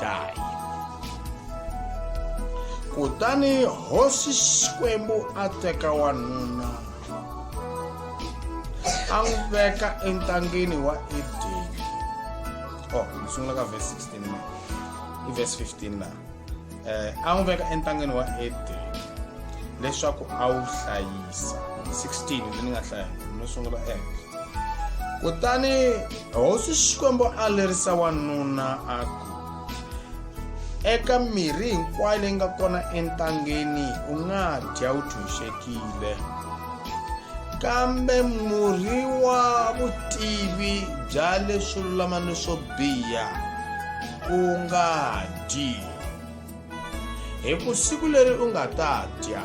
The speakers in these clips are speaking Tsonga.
die. Kutani hosi Xikwembu a teka wanuna a n'wi veka entangeni wa Edeni. Oh, ni sungula ka verse 16 na. I verse 15 na. Eh, a n'wi veka entangeni wa Edeni leswaku a wu hlayisa. 16 leyi ni nga hlaya no sungula ehenhla. kutani hosi xikwembu a lerisa wanuna a ku eka mirhi hinkwayo leyi nga kona entangeni u nga dya u tshunxekile kambe murhi wa vutivi bya leswo lulama ni swo biha u nga dyi hi ku siku leri u nga ta dya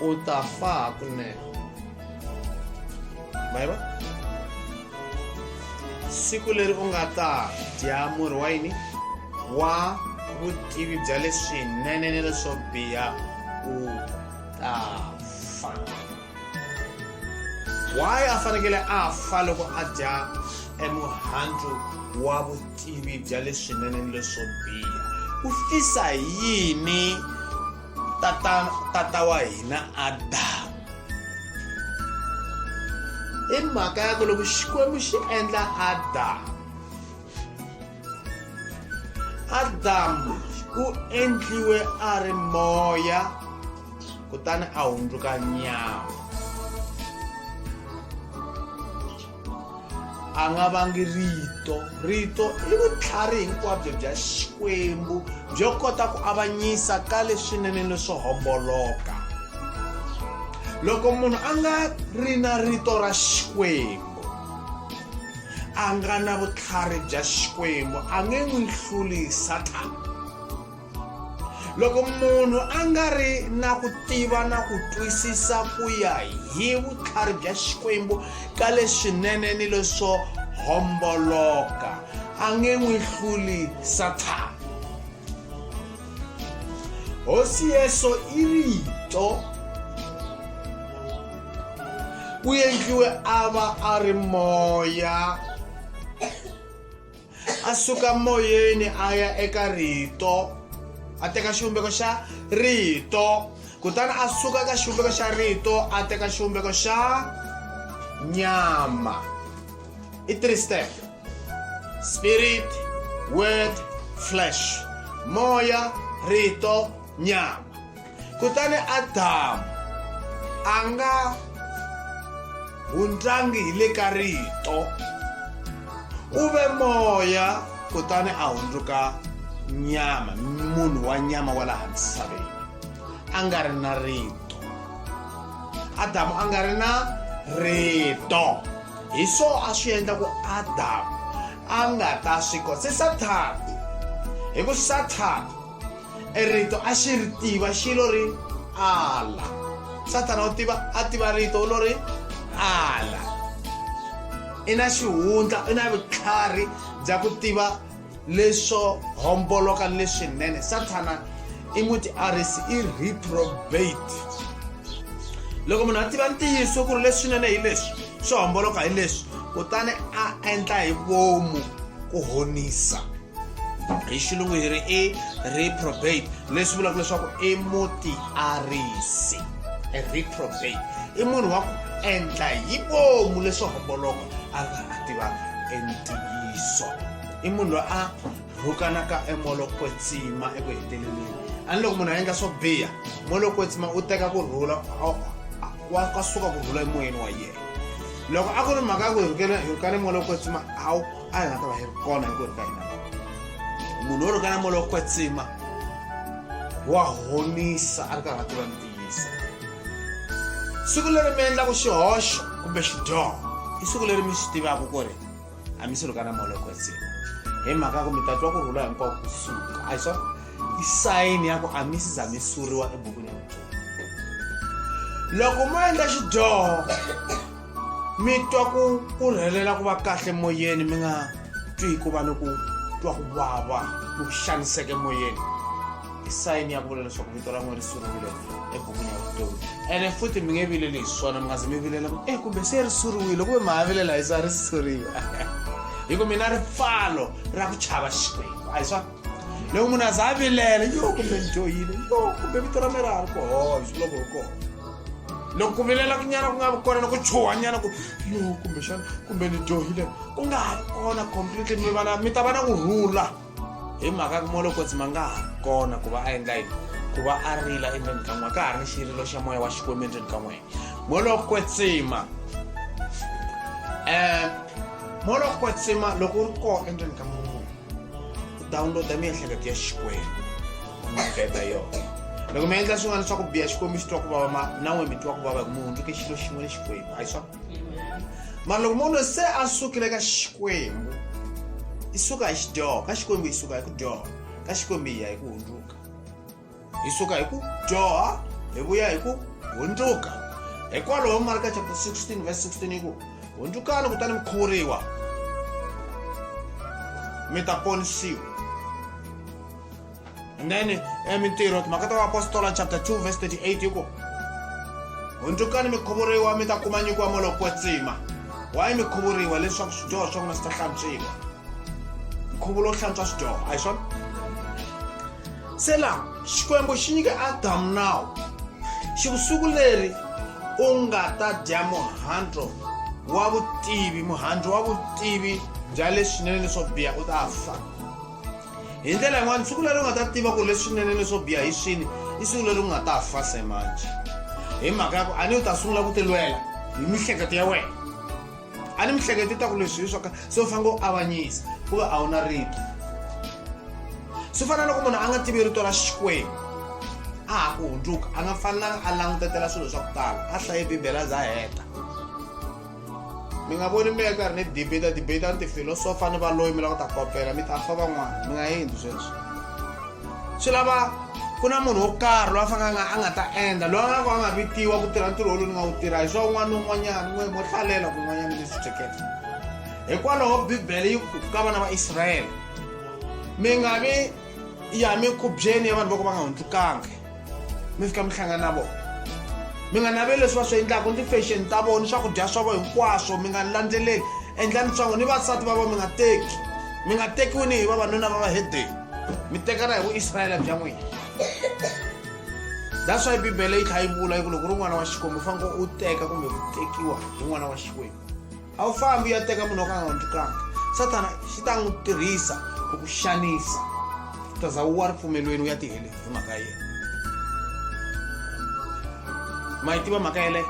utafaa hakunene maiva siku leri u nga ta dya murhi wa yini wa vutivi bya leswinene ni leswo biha u ta fa why a fanekele a fa loko a dya emuhandzu wa vutivi bya leswinene ni leswo biha u fisa yini tata tata wa hina adamu i mhaka ya ku loko xikwembu xi endla adamu adamu u endliwe a ri moya kutani a hundzuka nyama a nga vangi rito rito i vutlhari hinkwabyo bya xikwembu byo kota ku avanyisa ka leswinene ni swo homboloka loko munhu a nga ri na rito ra xikwembu a nga na vutlhari bya xikwembu a nge n'wi hluli sathana loko munhu a nga ri na ku tiva na ku twisisa ku ya hi vutlhari bya xikwembu ka leswinene ni leswo homboloka a nge n'wi hluli sathana hosi yeso i rito ku endliwe a va a ri moya a suka moyeni a ya eka rito a teka xivumbeko xa rito kutani a suka eka xivumbeko xa rito a teka xivumbeko xa nyama i three step spirit word flesh moya rito nyama kutani adamu a nga hundlangi hi le ka rito u ve moya kutani a hundzuka nyama munhu wa nyama wa laha misaveni a nga ri na rito adamu a nga ri na rito hi swo a swi endla ku adamu a nga ta swi kota se sathana hi ku sathana e rito a xi ri tiva xi lo ri ala sathana u tiva a tiva rito u lo ri ala i na xihundla i na vutlhari bya ku tiva leswo homboloka leswinene sathana i muti arisi i reprobate loko munhu a tiva ntiyiso ku ri leswinene hi leswi swo homboloka hi leswi kutani a endla hi vomu ku honisa hi xilungu hi ri i reprobate leswi vulaka leswaku i mutiarisi a reprobate i munhu wa ku endla hi vomu leswi homboloko a nga a tiva entiyiso i munhu loyi a rhukanaka emolokwetsima eku heteleleni a ni loko munhu a endla swo biha molokwetsima u teka ku rhula wa ka suka ku rhula emoyeni wa yena loko a ku ri mhaka ya ku hi rhukana hi rhukana molokwetsima a wu a hi nga ta va hi ri kona hi ku ri ka hina munhu wo ri ka na molo kwetsima wa honisa a ri karhi a tiva ntiyisa siku leri mi endlaka xihoxo kumbe xidyoho i siku leri mi swi tivaka ku ri a mi si ri ka na molo kwetsima hi mhaka ya ku mi ta twa ku rhula hinkwako ku suka a hi swona i sayini ya ku a mi si za mi suriwa ebukwini ya vutomi loko mo endla xidyoho mi twa ku ku rhelela ku va kahle moyeni mi nga twi ku va ni ku twa ku vava ku xaniseke moyeni i sayini ya ku vula leswaku vito ra n'wina ri suriwile ebukwini ya vutomi ene futhi mi nge vileli hi swona mi nga zi mi vilela ku e kumbe se ri suriwile kumbe mi ha vilela hi swa ri suriwa hi ku mina ripfalo ra ku chava xikwembu a hi swona loko munhu a za a vilela yo kumbe ni joyile yo kumbe vito ra mera ri kohoyo swi loko ri kona loko ku vilela kunyana ku nga vi kona na ku chuha nyana ku yo kumbe xana kumbe ni joyile ku nga ha ri kona completely mi vana mi ta va na ku rhula hi mhaka ku molo kotsi ma nga ha ri kona ku va a endla yini ku va a rila endzeni ka n'wina ka ha ri ni xirilo xa moya wa xikwembu endzeni ka n'wina molokwetsima um molokwetsima loko u ri kona endzeni ka n'wina downloada miehleketo ya xikwembu mabeba yona loko mi endla swin'wana swa ku biha xikwembu xi twa ku vava ma na n'we mi twa ku vava mi hundzuke xilo xin'we ni xikwembu a hi swa mara loko munhu se a sukile ka xikwembu i suka hi xidyoho ka xikwembu yi suka hi ku dyoha ka xikwembu yi ya hi ku hundzuka hi suka hi ku dyoha hi vuya hi ku hundzuka hikwalaho marka chapter 16 verse 16 yi ku hundzukani kutani mi khuvuriwa mi ta ponisiwa and then eh, mintirho timhaka ta vaapostola chapter 2 verse 38 yi ku hundzukani mi khuvuriwa mi ta kuma nyiko ya moloko wa tsima wayi mi khuvuriwa leswaku swidyoho swa n'wina swi ta hlantswiwa nkhuvo lowu hlantswa swidyoho a hi swona sela xikwembu xi nyike adamu nawu xi ku siku leri u nga ta dya muhandlo wa vutivi muhandlo wa vutivi bya leswinene leswo biha u ta fa hi ndlela yin'wana siku leri u nga ta tiva ku leswinene leswo biha hi swini i siku leri u nga ta fa se manje hi mhaka ya ku a ni u ta sungula ku tilwela hi mihleketo ya wena a ni mihleketi ta ku leswi hi swoka se u fanele u avanyisa ku va a wu na rito swi fana loko munhu a nga tivi rito ra xikwembu a ha ku hundzuka a nga fanelanga a langutetela swilo swa ku tala a hlaye bibele a za heta mi nga voni mi ya karhi ni debata debata ni tifilosofa ni valoyi mi lava ku ta kopela mi ta fa van'wana mi nga endli sweswo swi lava ku na munhu wo karhi loyi a fanelanga a nga ta endla loyi a nga ku a nga vitiwa ku tirha ntirho wolowu ni nga wu tirha hi swa un'wana ni un'wanyana n'we mo hlalela kun'wanyana ni swi hleketa hikwalaho bibele yi ku ka vana va israyele mi nga vi ya mikhubyeni ya vanhu vo ka va nga hundzukangi mi fika mi hlangana na vona mi nga naveli leswi va swi endlaka ni ti-fashion ta vona ni swakudya swa vona hinkwaswo mi nga landzeleli endlani swango ni vasati va vona mi nga teki mi nga tekiwi ni hi vavanuna va vahedeni mi tekana hi vuisrayele bya n'wina that's why bibele yi tlha yi vula yi ku loko ri n'wana wa xikwembu u faneke u teka kumbe ku tekiwa hi n'wana wa xikwembu a wu fambi u ya teka munhu wa ku a nga wu ndlukanga sathana xi ta n'wi tirhisa ku ku xanisa u ta za wu wa ripfumelweni u ya tihele hi mhaka yena ma yi tiva mhaka yeleyo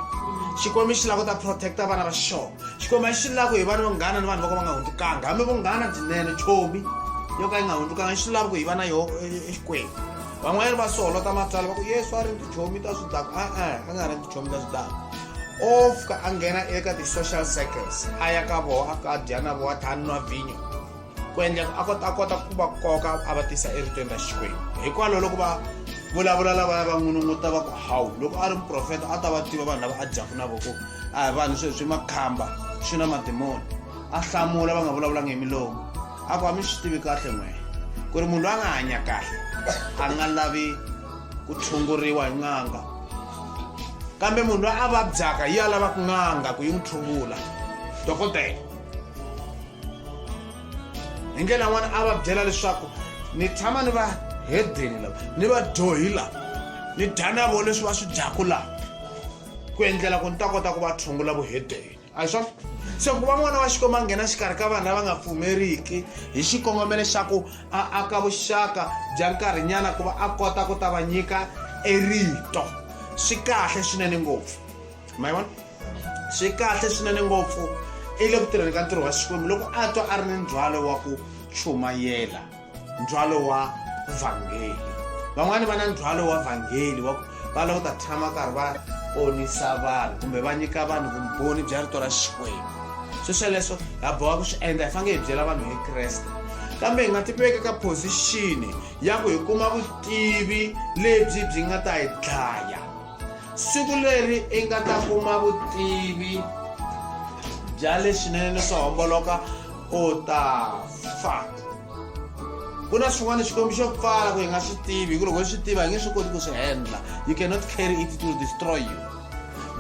xikwembu xi lava ku ta protect-a vana va xona xikwembu a xi lava ku hi vana vanghana ni vanhu va ka va nga hundzukanga hambi vunghana byinene chomi yo ka yi nga hundzukanga xi lava ku hi va na yoho e, e, exikwembu van'wanyana va soholota matswala va ku yesu a ri ndzi chomi ta swi daka a-a a nga ri ndzi chomi ta swi daka o fika a nghena eka ti-social circles a ya ka voho a fika a dya na voho a tlha a nwa vhinyo ku endleka a kota a kota ku va koka a va tisa eritweni ra xikwembu hikwalaho loko va vulavula lavaya va n'winun'uta va ku hawu loko a ri muprofeta a ta va tiva vanhu lava a dyaku na voko a hi vanhu sweswi makhamba swi na madimoni a hlamula va nga vulavulanga hi milomu a ku a mi swi tivi kahle n'wena ku ri munhu loyi a nga hanya kahle a nga lavi ku tshunguriwa hi n'anga kambe munhu loyi a vabyaka yi ya lavaka n'anga ku yi n'wi tshungula dokodela hi ndlela yin'wana a va byela leswaku ni tshama ni va hedeni lava ni va dyohi lava ni dya na vo leswi va swi dyaku laha ku endlela ku ni ta kota ku va tshungula vuhedeni a hi swona se ku va n'wana wa xikwembu a nghena xikarhi ka vanhu lava nga pfumeriki hi xikongomelo xa ku a aka vuxaka bya nkarhinyana ku va a kota ku ta va nyika erito swi kahle swinene ngopfu ma vona swi kahle swinene ngopfu i le ku tirheni ka ntirho wa xikwembu loko a twa a ri ni ndzhwalo wa ku chumayela ndzhwalo wa vhangeli van'wani va na ndzhwalo wa vhangeli wa va lava ku ta tshama karhi va ponisa vanhu kumbe va nyika vanhu vumbhoni bya rito ra xikwembu swi sweleswo ha boha ku swi endla hi fanele hi byela vanhu hi kreste kambe hi nga tiveki ka phozixini ya ku hi kuma vutivi lebyi byi nga ta hi dlaya siku leri i nga ta kuma vutivi bya leswinene swo homboloka u ta fa ku na swin'wana xikwembu xo pfala ku hi nga swi tivi hi ku loko hi swi tiva hi nge swi koti ku swi endla you cannot carry it to destroy you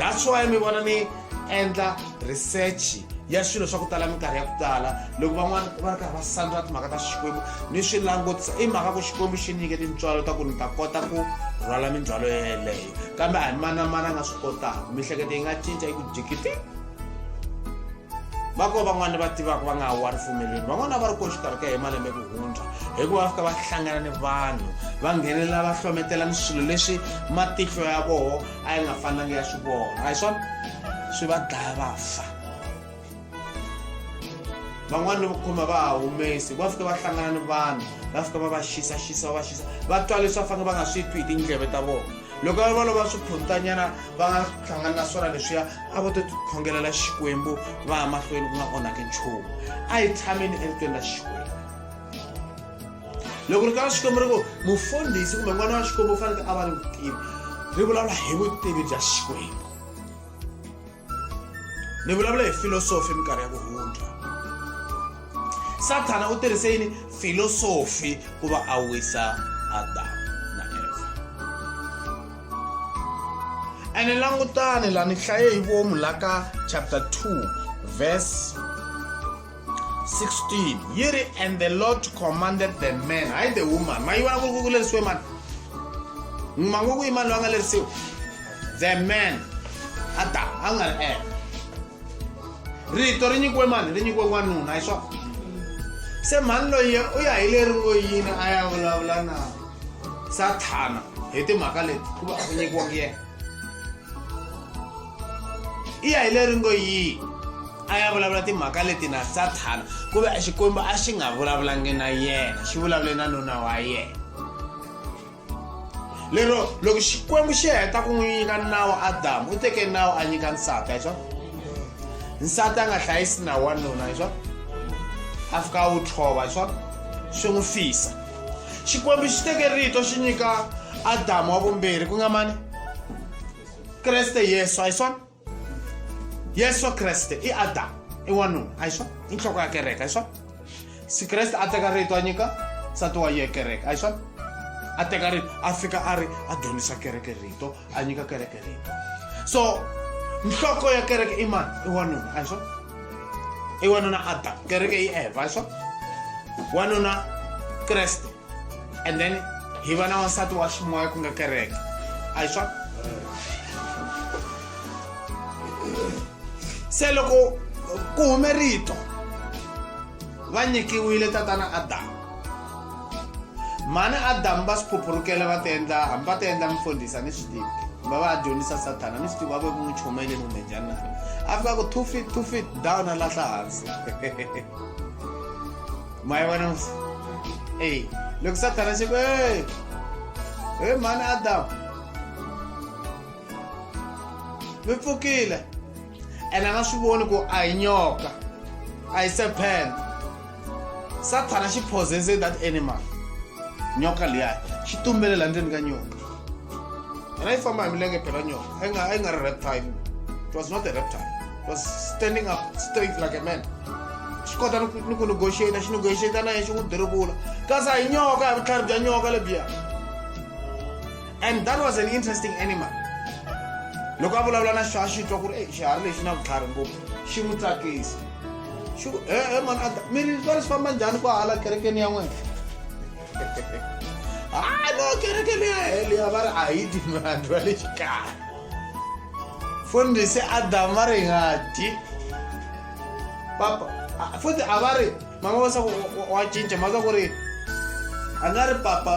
that's why mi vona ni endla research ya swilo swa ku tala minkarhi ya ku tala loko van'wana va ri karhi va sandra timhaka ta xikwembu ni swi langutisa i mhaka ku xikwembu xi nyike tintswalo ta ku ni ta kota ku rhwala mindzwalo yeleyo kambe a hi manamana a nga swi kotaka mihleketo yi nga cinca yi ku jikiti va ko van'wana ni va tivaka va nga ha wa ripfumelweni van'wana va ri ko xikarhi ka hi malembe ku hundza hikuva va fika va hlangana ni vanhu va nghenelela va hlometela ni swilo leswi matihlo ya voho a yi nga fanelanga ya swi vona a hi swona swi va dlaya va fa van'wana ni vukhoma va ha humesi va fika va hlangana ni vanhu va fika va va xisaxisa va va xisa va twa leswi va fanele va nga swi twi hi tindleve ta vona loko va vona va swiphutanyana va nga hlangani na swona leswiya a vo to tikhongelela xikwembu va ya mahlweni ku nga onhaki nchumu a yi tshameni evitweni ra xikwembu loko ri ka xikwembu ri ku mufundhisi kumbe n'wana wa xikwembu u faneke a va ni vutivi ri vulavula hi vutivi bya xikwembu ni vulavula hi filosofi minkarhi ya ku hundza sathana u tirhise yini filosofi ku va a wisa adamu na eva ene langutani la ni hlaye hi vomu la ka chapter 2 verse 16 yere and the lord commanded the man hayi the woman ma yi vona ku ku lerisiwe mani ma ngo ku yi mani loyi a nga lerisiwe the man a ta a nga ri eka rito ri nyikiwe mani ri nyikiwe n'wanuna hi swona se mhani loyi u ya hi leri ngo yini a ya vulavula na sathana hi timhaka leti ku va a ku nyikiwangi yena i ya hi leri ngo yi a ya vulavula timhaka leti na sathana ku ve xikwembu a xi nga vulavulangi na yena xi vulavule na nuna wa yena lero loko xikwembu xi heta ku n'wi nyika nawu adamu u teke nawu a nyika nsati hi swona nsati a nga hlayisi nawu wa nuna hi swona a fika a wu tlhova hi swona swi n'wi fisa xikwembu xi teke rito xi nyika adamu wa vumbirhi ku nga mani kreste i yesu a hi swona yesu kreste i adamu i wanuna a hi swona i nhloko ya kereke a hi swona si kreste a teka rito a nyika nsati wa ye kereke a hi swona a teka rito a fika a ri a dyondzisa kereke rito a nyika kereke rito so nhloko ya kereke i mani i wanuna a hi swona i wanuna adamu kereke i eva a hi swona wanuna kreste and then hi va na wansati wa ximoya ku nga kereke a hi swa se loko ku hume rito va nyikiwile tatana adamu mhani adamu va swi phuphurukela va ti endla hambi va ti endla mfundhisa ni swi tivi va va dyondzisa sathana ni swi tivi va ve ku n'wi chumele kumbe njhani na a fika ku two feet two feet down a lahla hansi mayivona ey loko sathana xi ku ey he mhani adamu mi pfukile ene a nga swi voni ku a hi nyoka a hi serpent sathana xi possese that animal nyoka liya xi tumbele la ndzeni ka nyoni And I found my milenge pelanyo. I ain't a reptile. It was not a reptile. It was standing up straight like a man. swi kota ni ku negotiata xi negotiata na yena xi n'wi dirivula kasi a hi nyoka hi vutlhari bya nyoka lebyiya and that was an interesting animal loko a vulavula na xo a xi twa ku ri e xiharhi lexi na vutlhari ngopfu xi n'wi tsakisa xi ku e e mani a mi ri swi va leswi famba njhani ku hala kerekeni ya n'wena Ah, no, kereke leyi a heliya va ri a yi dyi mihandzu ya le xikaya fundhisi adamu va ri hi nga dyi papa futhi a va ri mama va swaku wa cinca ma swa ku ri a nga ri papa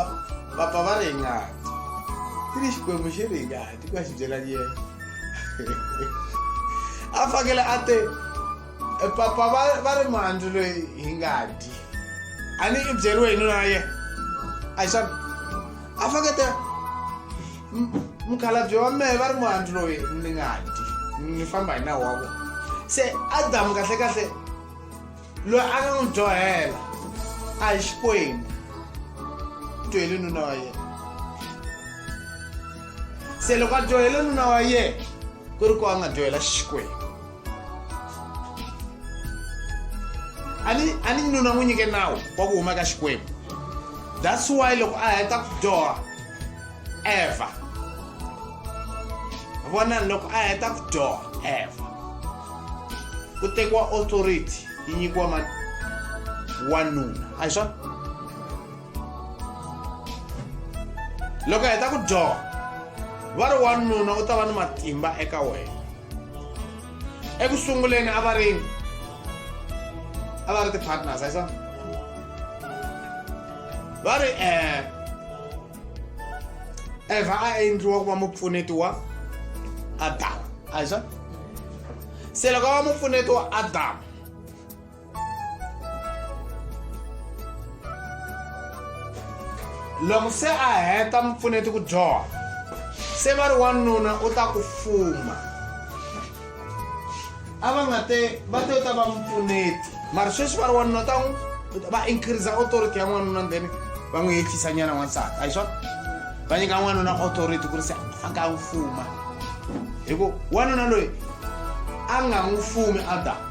papa va ri hi nga dyi ti ri xikwembu xi ri hi nga dyi ku ya xi byela yena a fanekele a te E, papa va va ri muhandzu loyi hi nga dyi a ni i byeriwe hi nuna ye a xana a fakete mukhalabye wa mehe va ri muhandzu loyi ni nga dyi ni famba hi nawu wa vona se adamu kahlekahle loyi a nga n'wi dyohela a hi xikwembu dyohele nuna wa yena se loko a dyohele nuna wa yena ku ri ku a nga dyohela xikwembu a ni a ni nuna n'wi nyike nawu wa ku huma ka xikwembu that's why loko a heta ku dyoha eva vona loko a heta ku dyoha eva ku tekiwa authority yi nyikiwa mani wanuna a hi swona loko hi heta ku dyoha va ri wanuna u ta va ni matimba eka wena eku sunguleni a va rini a va ri ti-partners a yi swona va ri um eva a endliwa ku va mupfuneti wa adama a yi swona se loko a va mupfuneti wa adama loko se a heta mupfuneti ku dyoha se va ri wanuna u ta ku fuma a va nga te va te u ta va mupfuneti mara sweswi va ri wanuna u ta n'wi va increasa authority ya n'wanuna then va n'wi yehlisa nyana n'wansati a hi swona va nyika n'wanuna authority ku ri se a nga n'wi fuma hi ku wanuna loyi a nga n'wi fumi adamu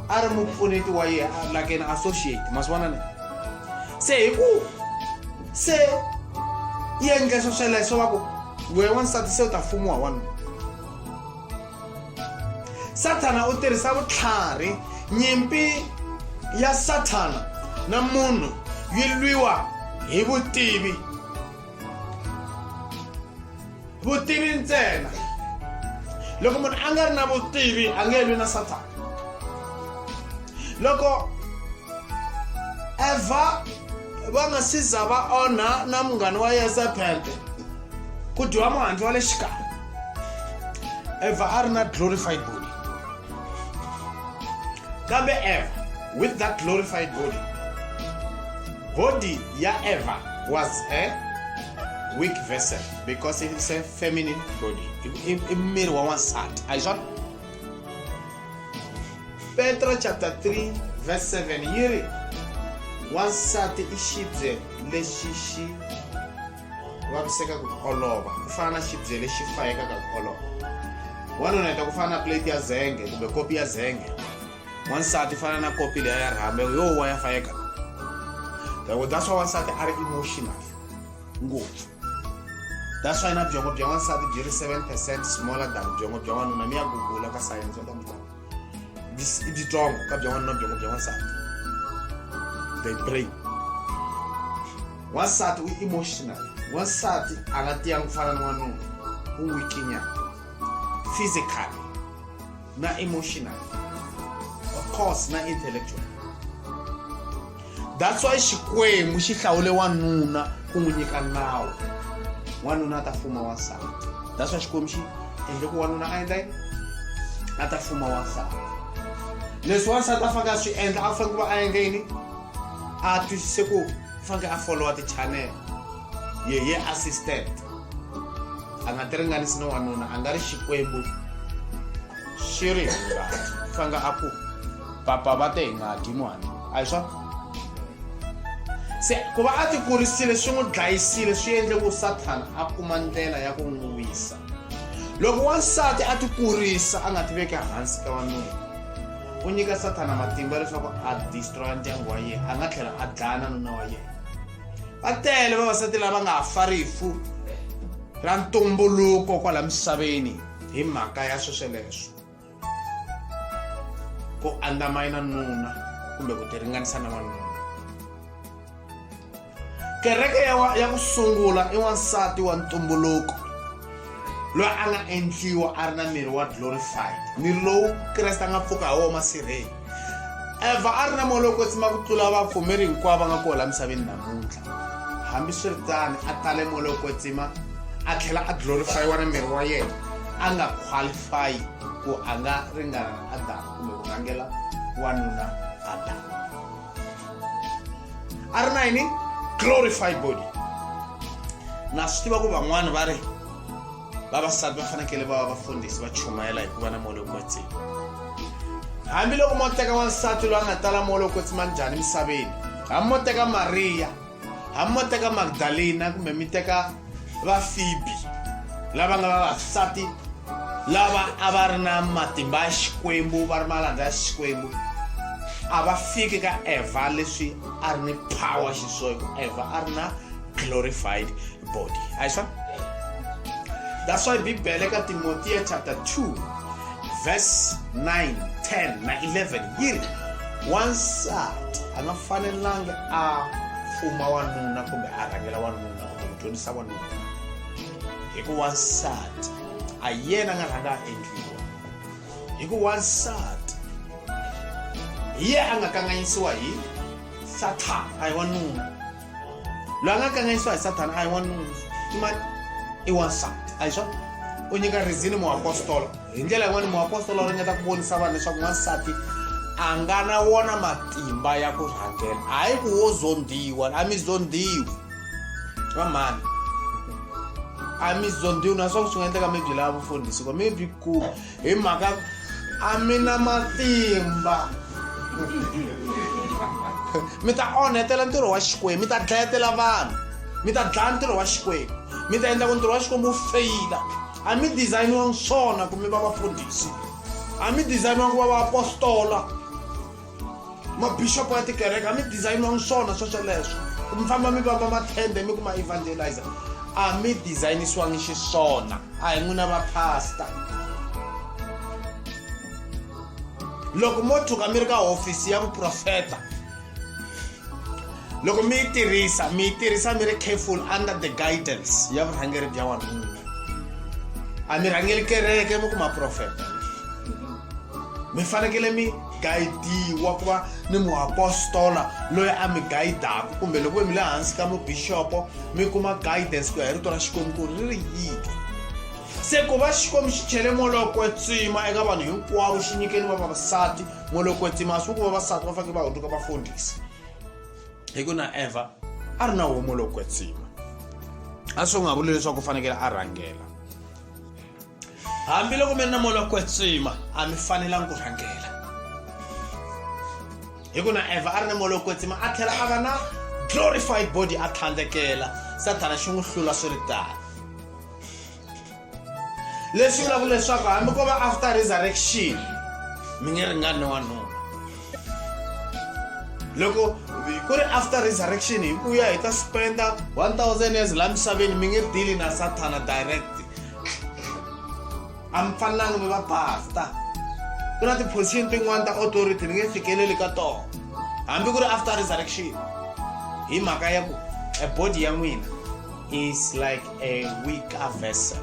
a ri mupfuneti wa ye like an associate masivona ne se hi ku se yi endle swo sweleswo va ku wehe wansati se u ta fumiwa wanuna sathana u tirhisa vutlhari nyimpi ya sathana na munhu yi lwiwa hi vutivi vutivi ntsena loko munhu a nga ri na vutivi a nge lwi na sathana loko eva va nga si za va onha na munghana wa yezebele ku dyiwa muhandzi wa le xikarhi eva a ri na glorified body kambe eva with that glorified body body ya eva was a eh? weak vessel because it's a feminine body i i miri wa n'wansati a hi swona petro chapter 3 verse 7 yi ri wansati i xibye lexi xi vaviseka ku olova ku fana na xibye lexi fayekaka ku olova wanuna heta ku fana na plate ya zenge kumbe kopi ya zenge wansati fana na kopi leya ya rhamba yo wa ya fayeka loko that's why wansati a ri emotional ngopfu that's why na byongo bya wansati byi ri 7 percent smaller than byongo bya wanuna ni ya gugula ka science ta mutana i byitsongo ka bya wanuna byongo bya wansati they pray wansati u emotional wansati a nga tiyangi ku fana ni wanuna u wikinyana physically na emotional of course na intellectual that's why xikwembu xi hlawule wanuna ku n'wi nyika nawu wanuna a ta fuma wansati that's why xikwembu xi endle ku wanuna a endla yini a ta fuma wansati leswi wansati a fanele a swi endla a fanele ku va a endle yini a twisise ku fanele a followa ti-channel yeye assistant a nga ti ringanisi ni wanuna a nga ri xikwembu xi ri hungati fanga a ku papa va te hi nga dyi muhani a hi swona se ku va a ti kurisile swi n'wi dlayisile swi endle ku sathana a kuma ndlela ya ku n'wi wisa loko wansati a ti kurisa a nga ti veki hansi ka wanuna u nyika sathana matimba leswaku a destroya ndyangu wa yena a nga tlhela a dlaya na nuna wa yena va tele vavasati lava nga fa rifu ra ntumbuluko kwala misaveni hi mhaka ya swesweleswo ku andzamayina nuna kumbe ku tiringanisa na wanuna kereke ya, wa, ya ku sungula i wansati wa ntumbuluko loyi a nga endliwa a ri na miri wa glorified miri lowu kreste a nga pfuka hi wona masirheni eva a ri na moya lowu kwetsima ku tlula vapfumeri hinkwavo va nga kona laha misaveni namuntlha hambiswiritano a tale moya lowu kwetsima a tlhela a glorifayiwa na miri wa yena a nga qualify ku a nga ringana na adamu kumbe ku rhangela wanuna adamu a ri na yini glorify body na swi tiva ku van'wani va ri vavasati va fanekele va va vafundhisi va chumayela hi ku va na moya lowu kwetsini hambiloko mo teka wansati loyi a nga tala moya lowu kwetsi ma njhani emisaveni hambi mo teka mariya hambi mo teka magdalena kumbe mi teka vafibi lava nga vavasati lava a va ri na matimba ya xikwembu va ri malanda ya xikwembu a va fiki ka evha leswi a ri ni power xiswona ku evha a ri na glorified body ayiswa that's why bibele ka timotiya chapter 2 verse 9 10 na 11 yi ri wansati a nga fanelanga a fuma wanuna kumbe a rhangela wanuna kumbe ku dyondzisa wanuna hi ku wansati a yena a nga rhanga a endliwa hi ku wansati hi ye a nga kanganyisiwa hi sathana a hi wanuna loyi a nga kanganyisiwa hi sathana a hi wanuna i mani i wansati a hi swona u nyika rizini muapostolo hi ndlela yin'wana muapostolo u ringeta ku vonisa vanhu leswaku wansati a nga na wona matimba ya ku rhangela hayi ku wo zondiwa a mi zondiwi va mhani a mi zondiwi naswona swi nga endleka mi byi lava vufundhisi ko mi byi kuma hi mhaka a mi na matimba mi ta onhetela ntirho wa xikwembu mi ta dlayetela vanhu mi ta dlaya ntirho wa xikwembu mi ta endla ku ntirho wa xikwembu wu feyila a mi dizayiniwangi swona ku mi va vafundhisi a mi dizayiniwangi ku va vaapostola mabishopo ya tikereke a mi dizayiniwanga swona swosweleswo mi famba mi vamba mathende mi ku ma evangelizer a mi dizayinisiwangi xiswona a hi n'wina vapasta loko mo tshuka mi ri ka hofisi ya vuprofeta loko mi yi tirhisa mi yi tirhisa mi ri careful under the guidance ya vurhangeri bya wanuna a mi rhangeli kereke mi kuma profeta mi fanekele mi gayidiwa ku va ni muapostola loyi a mi gayidaka kumbe loko mi le hansi ka mubixopo mi kuma guidance ku ya hi rito ra xikwembu ku ri ri yini se ku va xikwembu xi chele molokwetsima eka vanhu hinkwavo xi nyikeni va vavasati molokwetsima a swi ku vavasati va fanekele va hunduka va fundhisa hi ku na eva a ri na wo molokwetsima a swi nga vuli leswaku u fanekele a rhangela hambiloko mi ri na moya wa kwetsima a mi fanelanga ku rhangela hi ku na evha a ri na moya wa kwetsima a tlhela a va na glorified body a tlhandlekela sathana xi n'wi hlula swi ri tano leswi vulaka leswaku hambi ko va after resurrection mi nge ringani wanuna loko ku ri after resurrection hi ku ya hi ta spenda 1000 years laha misaveni mi nge dili na sathana direct a mi fanelanga mi va basta ku na ti-position tin'wana ta authority mi nge fikeleli ka tona hambi ku ri after resurrection hi mhaka ya ku a body ya n'wina is like a weaker vessel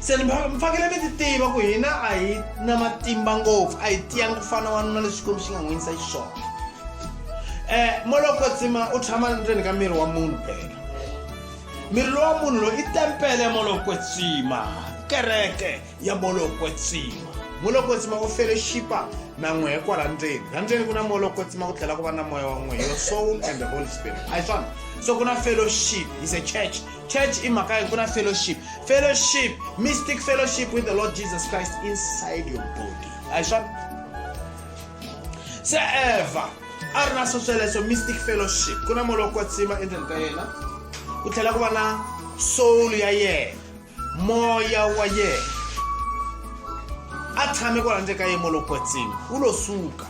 se ni fanekele mi ti tiva ku hina a hi na matimba ngopfu a hi tiyangi ku fana wanuna leswi xikwembu xi nga n'wi yisa xiswona um eh, moloko tsima u tshama ndzeni ka miri wa munhu phela miri lowa munhu loyi i tempele ya moloko tsima kereke ya moloko tsima moloko tsima u fele xipa na n'we kwala ndzeni la ndzeni ku na moloko tsima ku tlhela ku va na moya wa n'we your soul and the holy spirit a hi swona so ku na fellowship is a church church i mhaka ku na fellowship fellowship mystic fellowship with the lord jesus christ inside your body a hi swona se eva a ri na swo sweleswo mystic fellowship ku na molo wa tsima endzeni ka yena ku tlhela ku va na soul ya yena moya wa yena a tshame kwala ndzeni ka yena molo wa tsima u lo suka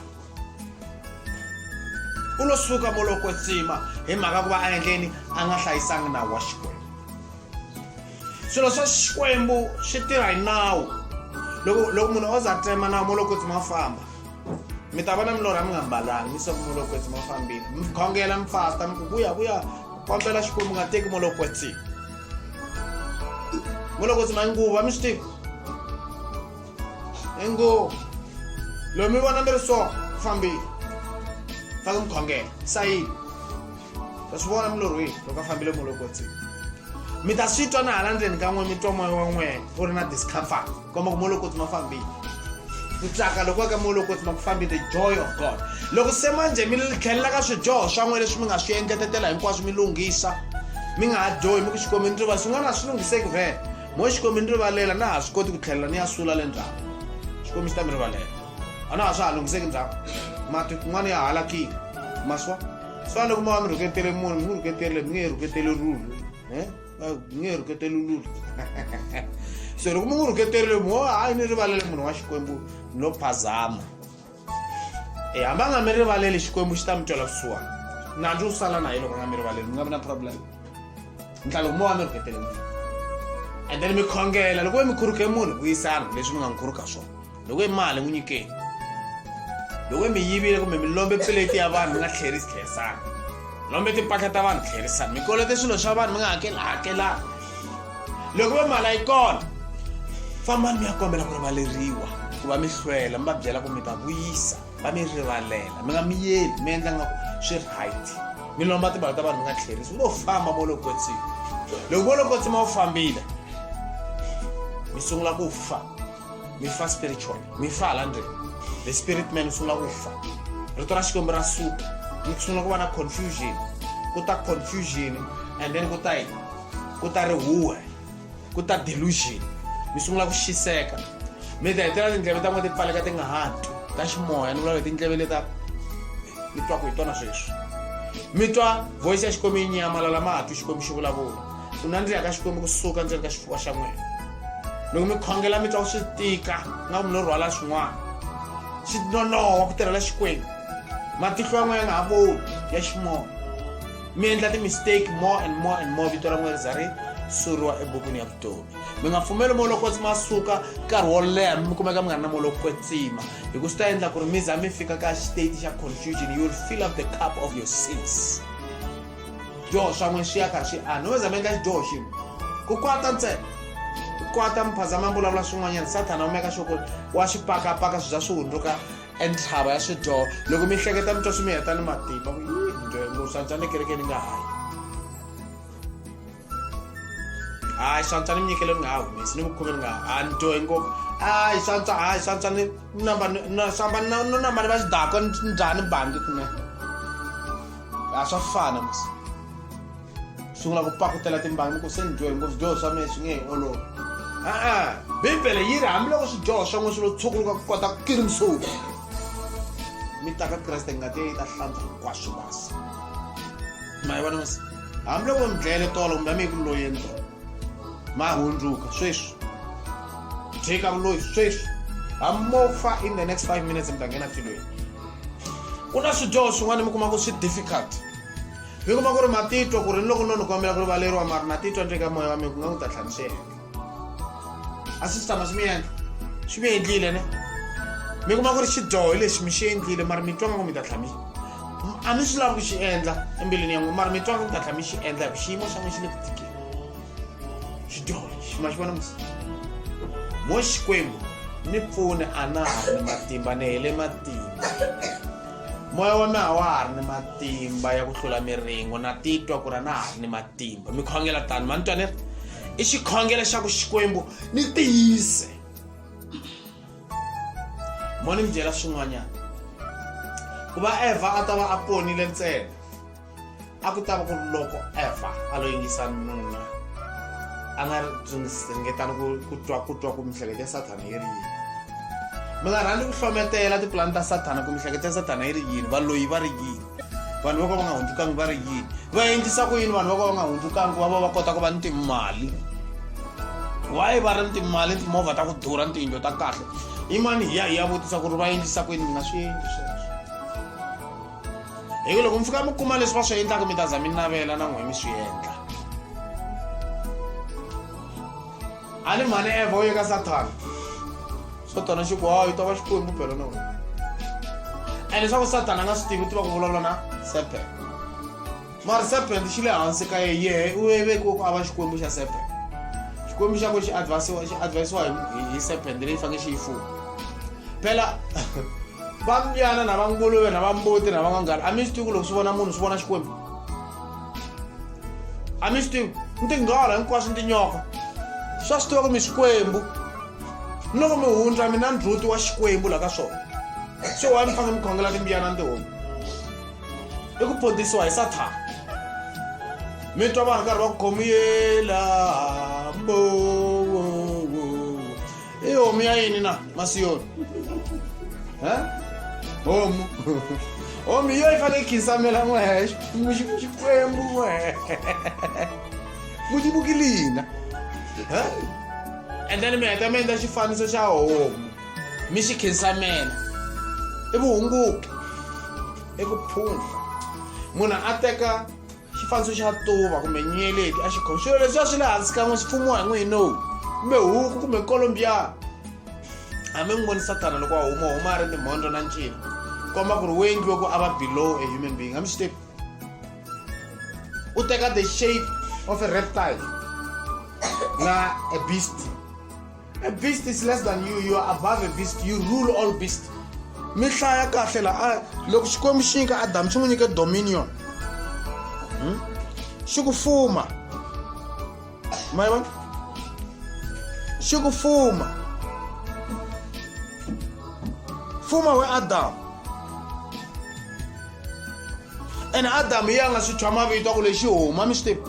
u lo suka mo lo kwetsima hi mhaka ku va a endleni a nga hlayisangi nawu wa xikwembu swilo swa xikwembu swi tirha hi nawu loko loko munhu o za tsema nawu mo lo kwetsima famba mi ta vona milorha mi nga mbalanga mi soko mo lo kwetsima fambile mi khongela mi fasta mi ku vuya vuya kombela xikwembu nga teki mo lo kwetsima mo lo kwetsima nguva mi swi tiva ingo loyi mi vona mi ri so ku fambile ta ku mi khongela sayini ta swi vona mulorhweni loko a fambile mu loko tsini mi ta swi twa na hala ndzeni ka n'we mi twa moya wa n'we u ri na discomfort komba ku mo loko tsi ma fambile ku tsaka loko ka mo loko tsi ma ku fambi the joy of god loko se manje mi tlhelela ka swidyoho swa n'we leswi mi nga swi engetetela hinkwaswo mi lunghisa mi nga ha dyohi mi ku xikomini ri va swin'wana a swi lunghiseki vhele mo xikombi ni rivalela na ha swi koti ku tlhelela ni ya sula le ndzhaku xikombi xi ta mi rivalela a na ha swa ha lunghiseki ndzhaku mati kun'wana ya halakile maswa swa loko mi va mi rhuketele munhu mi n'wi rhuketerile mi nge he rhuketeli rulu e mi nge he rhuketeli lulu so loko mi n'wi rhuketerile mo hayi ni rivalele munhu wa xikwembu no phazama e hamba nga mi rivaleli xikwembu xi ta mi twela kusuwani nandzu wu sala na hi loko nga mi rivaleli mi nga vi na problem ntlalo mo wa mi rhuketele n'wini and then mi khongela loko ve mi khuruke munhu vuyisana leswi mi nga n'wi khuruka swona loko i mali n'wi nyikeni loko i mi yivile kumbe mi lombe peleti ya vanhu mi nga tlherisi tlherisana lombe timpahla ta vanhu tlherisana mi kolete swilo swa vanhu mi nga hakeli hakelana loko va mala yi kona fambani mi ya kombela ku rivaleriwa ku va mi hlwela mi va byela ku mi ta vuyisa va mi rivalela mi nga mi yeli mi endla nga ku swi right mi lomba timali ta vanhu mi nga tlherisi u lo famba volokotsima loko volokotsima wu fambile mi sungula ku fa mi fa spiritual mi fa hala ndri the spirit man usungula ku fa rito ra xikwembu ra suka ni kusungula ku va na confusion ku ta confusion and then ku ta yi ku ta rihuwe ku ta delusion mi sungula ku xiseka mi ta hetelela tindleve ta n'we ti pfaleka ti nga ha twi ta ximoya ni vula leti ndleve leta mi twaku hi tona sweswi mi twa voice ya xikwembu yi nyamalala ma ha twi xikwembu xi vulavula ku nandzika ka xikwembu kusuka ndzeni ka xifuva xa n'wina loko mi khongela mi twa ku swi tika nga ku mi lo rhwala swin'wana swi nonoha ku tirhela xikwembu matihlo ya n'wina nga ha voni ya ximoya mi endla ti-mistake more and more and more vito ra n'wina ri za ri suriwa ebukwini ya vutomi mi nga pfumeli moya loko ma suka nkarhi wo leha mi kumeka mi nga ri na moya loko kwetsima hi ku swi ta endla ku ri mi za mi fika ka state xa confusion you will fill up the cup of your sins xidyoho xa n'we xi ya karhi xi ana no za mi endla xidyoho xin'we ku kwata ntsena ku kwata muphazama vulavula swin'wanyana sathana u meka xo ku wa swi pakapaka swi za swi hundzuka entlhava ya swidyoho loko mi hleketa mi twa swi mi heta ni matimba ku yi njhe losantswa ni kereke ni nga hayi hayi swantswa ni mi nyikele mi nga ha humesi ni vukhumi ni nga ha ni dyohi ngopfu hayi swantswa hayi swantswa ni namba swamba no namba ni va xidako ni dya ni bangi kune a swa fana mis sungula ku pakutela timbangi ku se ni dyohi ngopfu swidyoho swa mina swi nge hi olova a-a bibele yi ri hambiloko swidyoho swa n'we swi lo tshukuluka ku kota ku kiri msuku mi ta ka kreste ngati ya yi ta hlantswa hinkwaswo basi ma yi vona masi hambiloko mi dlayele tolo kumbe a mi yi ku loyeni tolo ma hundzuka sweswi tshika vuloyi sweswi hamofa in the next five minutes mi ta nghena tilweni ku na swidyoho swin'wana mi kuma ku swi difficult mi kuma ku ri matitwa ku ri ni loko no ni kombela ku rivaleriwa mari na titwa nje ka moya wa mina ku nga ku ta tlhaniseka a swi sitama swi mi endla swi mi endlile ne mi kuma ku ri xidyoho lexi mi xi endlile mara mi twa nga ku mi ta tlhami a mi swi lavi ku xi endla embilwini ya n'wi mara mi twa nga ku mi ta tlhami xi endla hi ku xiyimo xa n'wi xi le ku tikeni xidyoho lexi ma xi vona musi mo xikwembu ni pfune a na ha ri ni matimba ni hele matimba moya wa mina a wa ha ri ni matimba ya ku hlula miringo na titwa ku ri a na ha ri ni matimba mi khongela tani ma ni twa ni ri i xikhongelo xa ku xikwembu ni tiyise mo ni mi byela swin'wanyana ku va evha a ta va a ponile ntsena a ku ta va ku ri loko evha a lo yingisa nuna a nga ringetani ku twa ku twa ku mihleketo ya sathana yi ri yini mi nga rhandzi ku hlometela tipulani ta sathana ku mihleketo ya sathana yi ri yini valoyi va ri yini vanhu voko va nga hundzukangi va ri yini va endlisa ku yini vanhu voko va nga hundzukangi va va va kota ku va ni timali why va ri ni timali ni timovha ta ku durha ni tiyindlo ta kahle imani hi ya hi ya vutisa ku ri va endlisa ku yini mi nga swi endli sweswo hi ku loko mi fika mi kuma leswi va swi endlaka mi ta za mi navela na n'we mi swi endla a ni mhani evha u ye ka sathana swo tona xi ku hawu yi ta va xikwembu phela na wena and leswaku sathana a nga swi tivi u tiva ku vulavula na serpent mara serpent xi le hansi ka ye yehe u vevekiwe ku a va xikwembu xa serpent xikwembu xa ku xi advisiwa xi advisiwa hi serpent leyi fanele xi yi fuma phela va mbyana na va nguluve na va mbuti na va n'wanghala a mi swi tivi ku loko swi vona munhu swi vona xikwembu a mi swi tivi ni tinghora hinkwaswo ni tinyoka swa swi tiva ku mi xikwembu ni loko mi hundza mina ndzhuti wa xikwembu laha ka swona so wa ni fanele mi khongela timbiyana ni tihomu i ku pondzisiwa hi sathana mi twa vanhu karhi va ku khomiyela mbowo Hii homu ya yini na masiyoni Eh? homu homu iyo ifane khisamela n'wexe Muxi- xikwembu n'we muxibukilina endleni mi heta mi endla xifaniso xa homu mi xi khinsamela i vuhunguki i ku phundla munhu a teka xifaniso xa tuva kumbe nyeleti a xi khomi swilo leswi a swi le hansi kan'we swi pfumiwa hi n'wini no kumbe huku kumbe kolombiya hambi n'wi voni sathana loko a huma huma a ri timhondlo na ncila komba ku ri wu endliwe ku a va below a human being hambi xitepi u teka the shape of a reptile na a beast A beast is less than you, you are above a beast, you rule all beasts. Mi hlaya kahle la a loko Xikwembu xi nyika Adamu xi n'wi nyike dominion. Hmm? Xi ku fuma. Ma yi vona? Xi ku fuma. Fuma we Adamu. And Adamu yi a nga swi tshwa mavito a ku lexi huma mi swi tiva.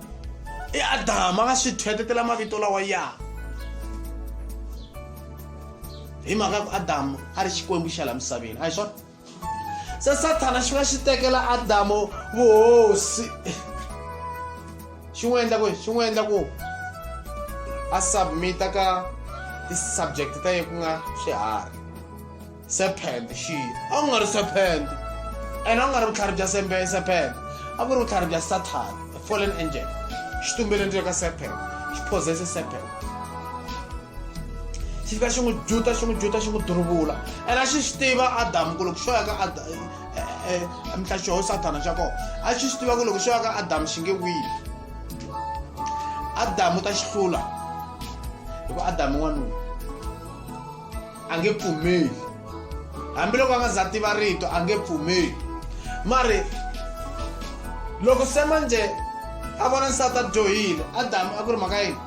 i adama va swi thwetetela mavito lawa ya hi mhaka ku adamu a ri xikwembu xa la misaveni a hi swona se sathana xi va xi tekela adamu vuhosi xi n'wi endla ku xi n'wi endla ku a submita ka ti-subject ta ye ku nga swiharhi serpent xi a ku nga ri serpent ene a ku nga ri vutlhari bya sembe serpent a ku ri vutlhari bya satan the fallen angel xi tumbele ndzilo ka serpent xi possesse serpent xi fika xi n'wi juta xi n'wi juta xi n'wi duruvula ene a xi xi tiva adamu ku loko xo ya ka mhlaxoho sathana xa kona a xi xi tiva ku loko xo ya ka adamu xi nge wini adamu ta xi hlula hikuva adamu n'wanuna a nge pfumeli hambiloko a nga za tiva rito a nge pfumeli mari loko se manje a vona nsati a dyohile adamu a ku ri mhaka yini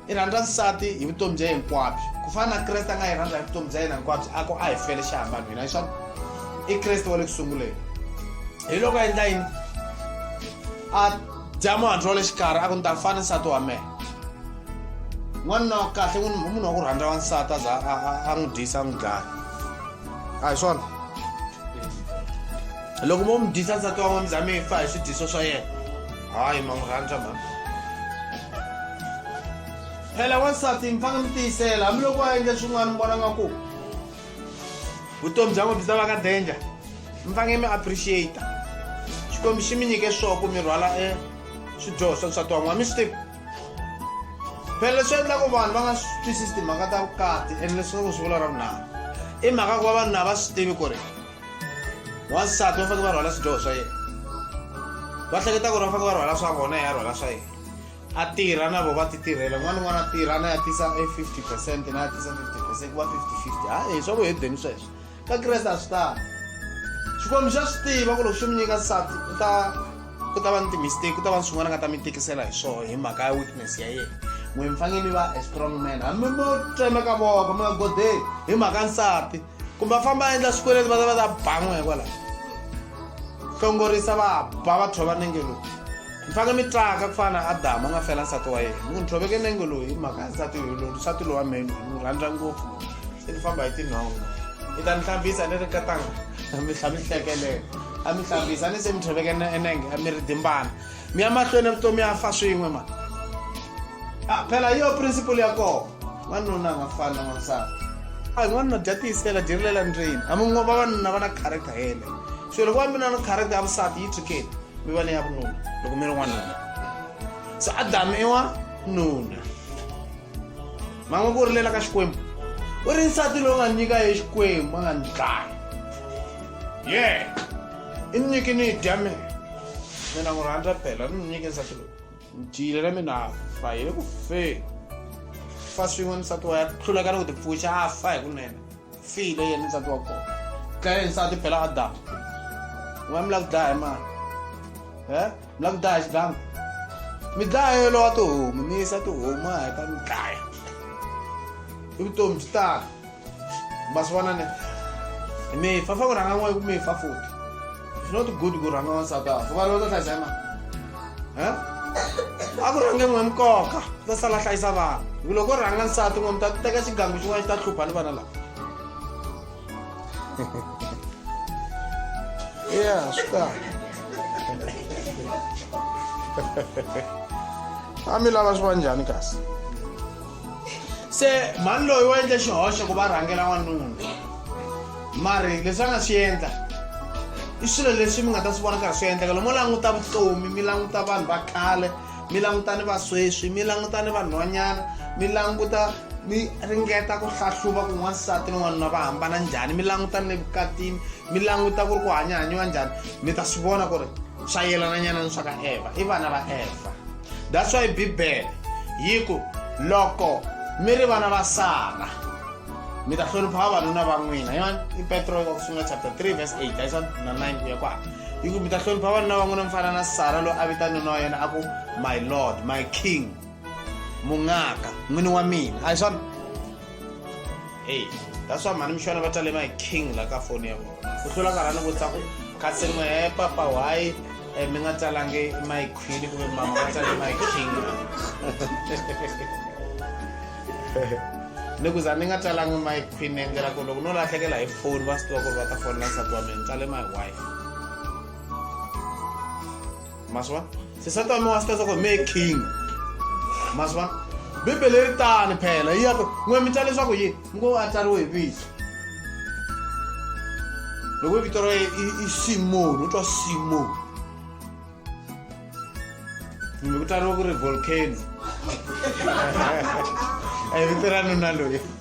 i rhandza nsati hi vutomi bya yena hinkwabyo ku fana na kreste a nga yi rhandza hi vutomi bya yena hinkwabyo a ku a hi fele xi hambana hina hi swona i kreste wa le ku sunguleni hi loko a endla yini a jamu anthu ole xikarhi a ku ni ta fana nsati wa mehe n'wanuna wa kahle munhu wa ku rhandza wansati a za a n'wi dyisa a n'wi dlaya a hi swona loko mo mi dyisa nsati wa n'wamza mi fa hi swidyiso swa yena hayi ma n'wi rhandza mhani phela wansati mi fanele mi tiyisela hambiloko a endle swin'wana mi vona nga ku vutomi bya n'we byi ta va ka danger mi fange mi appreciate xikwembu xi mi nyike swo ku mi rhwala e swidyoho swa nsati wan'wana mi swi tivi phela leswi endlaku vanhu va nga swi twisisi timhaka ta vukati and leswaku swi vula ra vunharhu i mhaka ku va vanhu na va swi tivi ku ri wansati va faneke va rhwala swidyoho swa yena va hleketa ku ri va faneke va rhwala swa vona ya rhwala swa yena a tirha na vo va ti tirhela un'wana un'wana a tirha na ya tisa e 50 percent na ya tisa 50 percent ku va 50 50 ha e swa ku hedeni sweswo ka kreste a swi tani xikwembu xa swi tiva ku loko xi mi nyika nsati u ta ku ta va ni timistake ku ta va ni swin'wana nga ta mi tikisela hi swona hi mhaka ya weakness ya yena n'we mi fanele mi va a strong man hambi mo tsemeka voko mi nga godeli hi mhaka nsati kumbe a famba a endla swikweleti va ta va ta ban'we hikwalaho hlongorisa va ba va thova nenge lowu mi fange mi tlaka ku fana na adamu a nga fela nsati wa yena mi ku ni thoveke nenge lowu hi mhaka ya nsati lowu nsati lowu wa mina ni rhandza ngopfu se ni famba hi tinhongo i ta ni hlambisa ni ri katanga mi tlha mi hlekelela a mi hlambisa a ni se mi thoveke enenge a mi ri dimbana mi ya mahlweni evutomi ya fa swin'we ma ah, phela yo principle ya kona wanuna nga fani na wansati a n'wanuna dya tiyisela dyerilela ndrini hambi n'wa va vanuna va na character yele so loko va mi na na character ya vusati yi tshukeni mi va ni ya vununa loko mi ri n'wanuna so adamu i wa nuna ma nga ku rilela ka xikwembu u ri nsati lowu nga nyika ye xikwembu a nga ni dlaya ye yeah. i ni nyiki ni dya mi mina n'wi rhandza phela ni ni nyike nsati loyi ni dyile na mina fa hi le ku feni fa swin'we nsati wa ya hluleka ni ku tipfuxa a fa hi kunene file yena nsati wa kona dlaye nsati phela adamu n'wana mi lava ku dlaya hi mani e mi lava ku dlaya xidlanga mi dlaya yelo wa tihomu mi yisa tihomu a heta mi dlaya i vutomi byi tala mazuva nane mifafa kuranga mwe kumifa futi it's not good kuranga wansati afu va lota tazema a ku rhange n'we nkoka ta sala hlayisa vanhu hi ku loko u rhanga nsati n'we mi ta teka xigangu xin'wana xi ta hlupha ni vana lava ya swi kahle a mi lava swi va njhani kasi se mhani loyi wa endle xihoxo ku va rhangela n'wanuna mari leswi a nga swi endla i swilo leswi mi nga ta swi vona karhi swi endleka lomo languta vutomi mi languta vanhu va khale mi languta ni vasweswi mi languta ni vanhwanyana mi languta mi ringeta ku hlahluva ku n'wansati ni n'wanuna va hambana njhani mi languta ni le vukatini mi languta ku ri ku hanyahanyiwa njhani mi ta swi vona ku ri swa yelananyana ni swa ka evha i vana va evha that's why bibele yi ku loko mi ri vana va sara mi ta hlonipha vavanuna va n'wina yona i petro wa ku sungula chapter 3 verse 8 ayisona na 9 ku ya kwala yi ku mi ta hlonipha vavanuna va n'wina mi fana na sara loyi a vita nuna wa yena a ku my lord my king mungaka n'wini wa mina ayisona heyi that's why mhani mixana va talema hi king la ka foni ya vona ku hlula karhani vutisa ku kasi n'we he papa why eh, mi nga talangi my queen kumbe mama va tale my king ni ku za ni nga talangi my queen endlela ku loko no lahlekela hi foni va swi tiva ku ri va ta fonela nsati wa mina tale my wife maswa se sa tama wa sitasa ku me king maswa bibele ri tani phela yi yaka n'we mi ta leswaku yi ngo a tsariwe hi vito loko vito ra i simoni u twa simoni kumbe ku tsariwa ku ri volcano a hi vito ra nuna loyi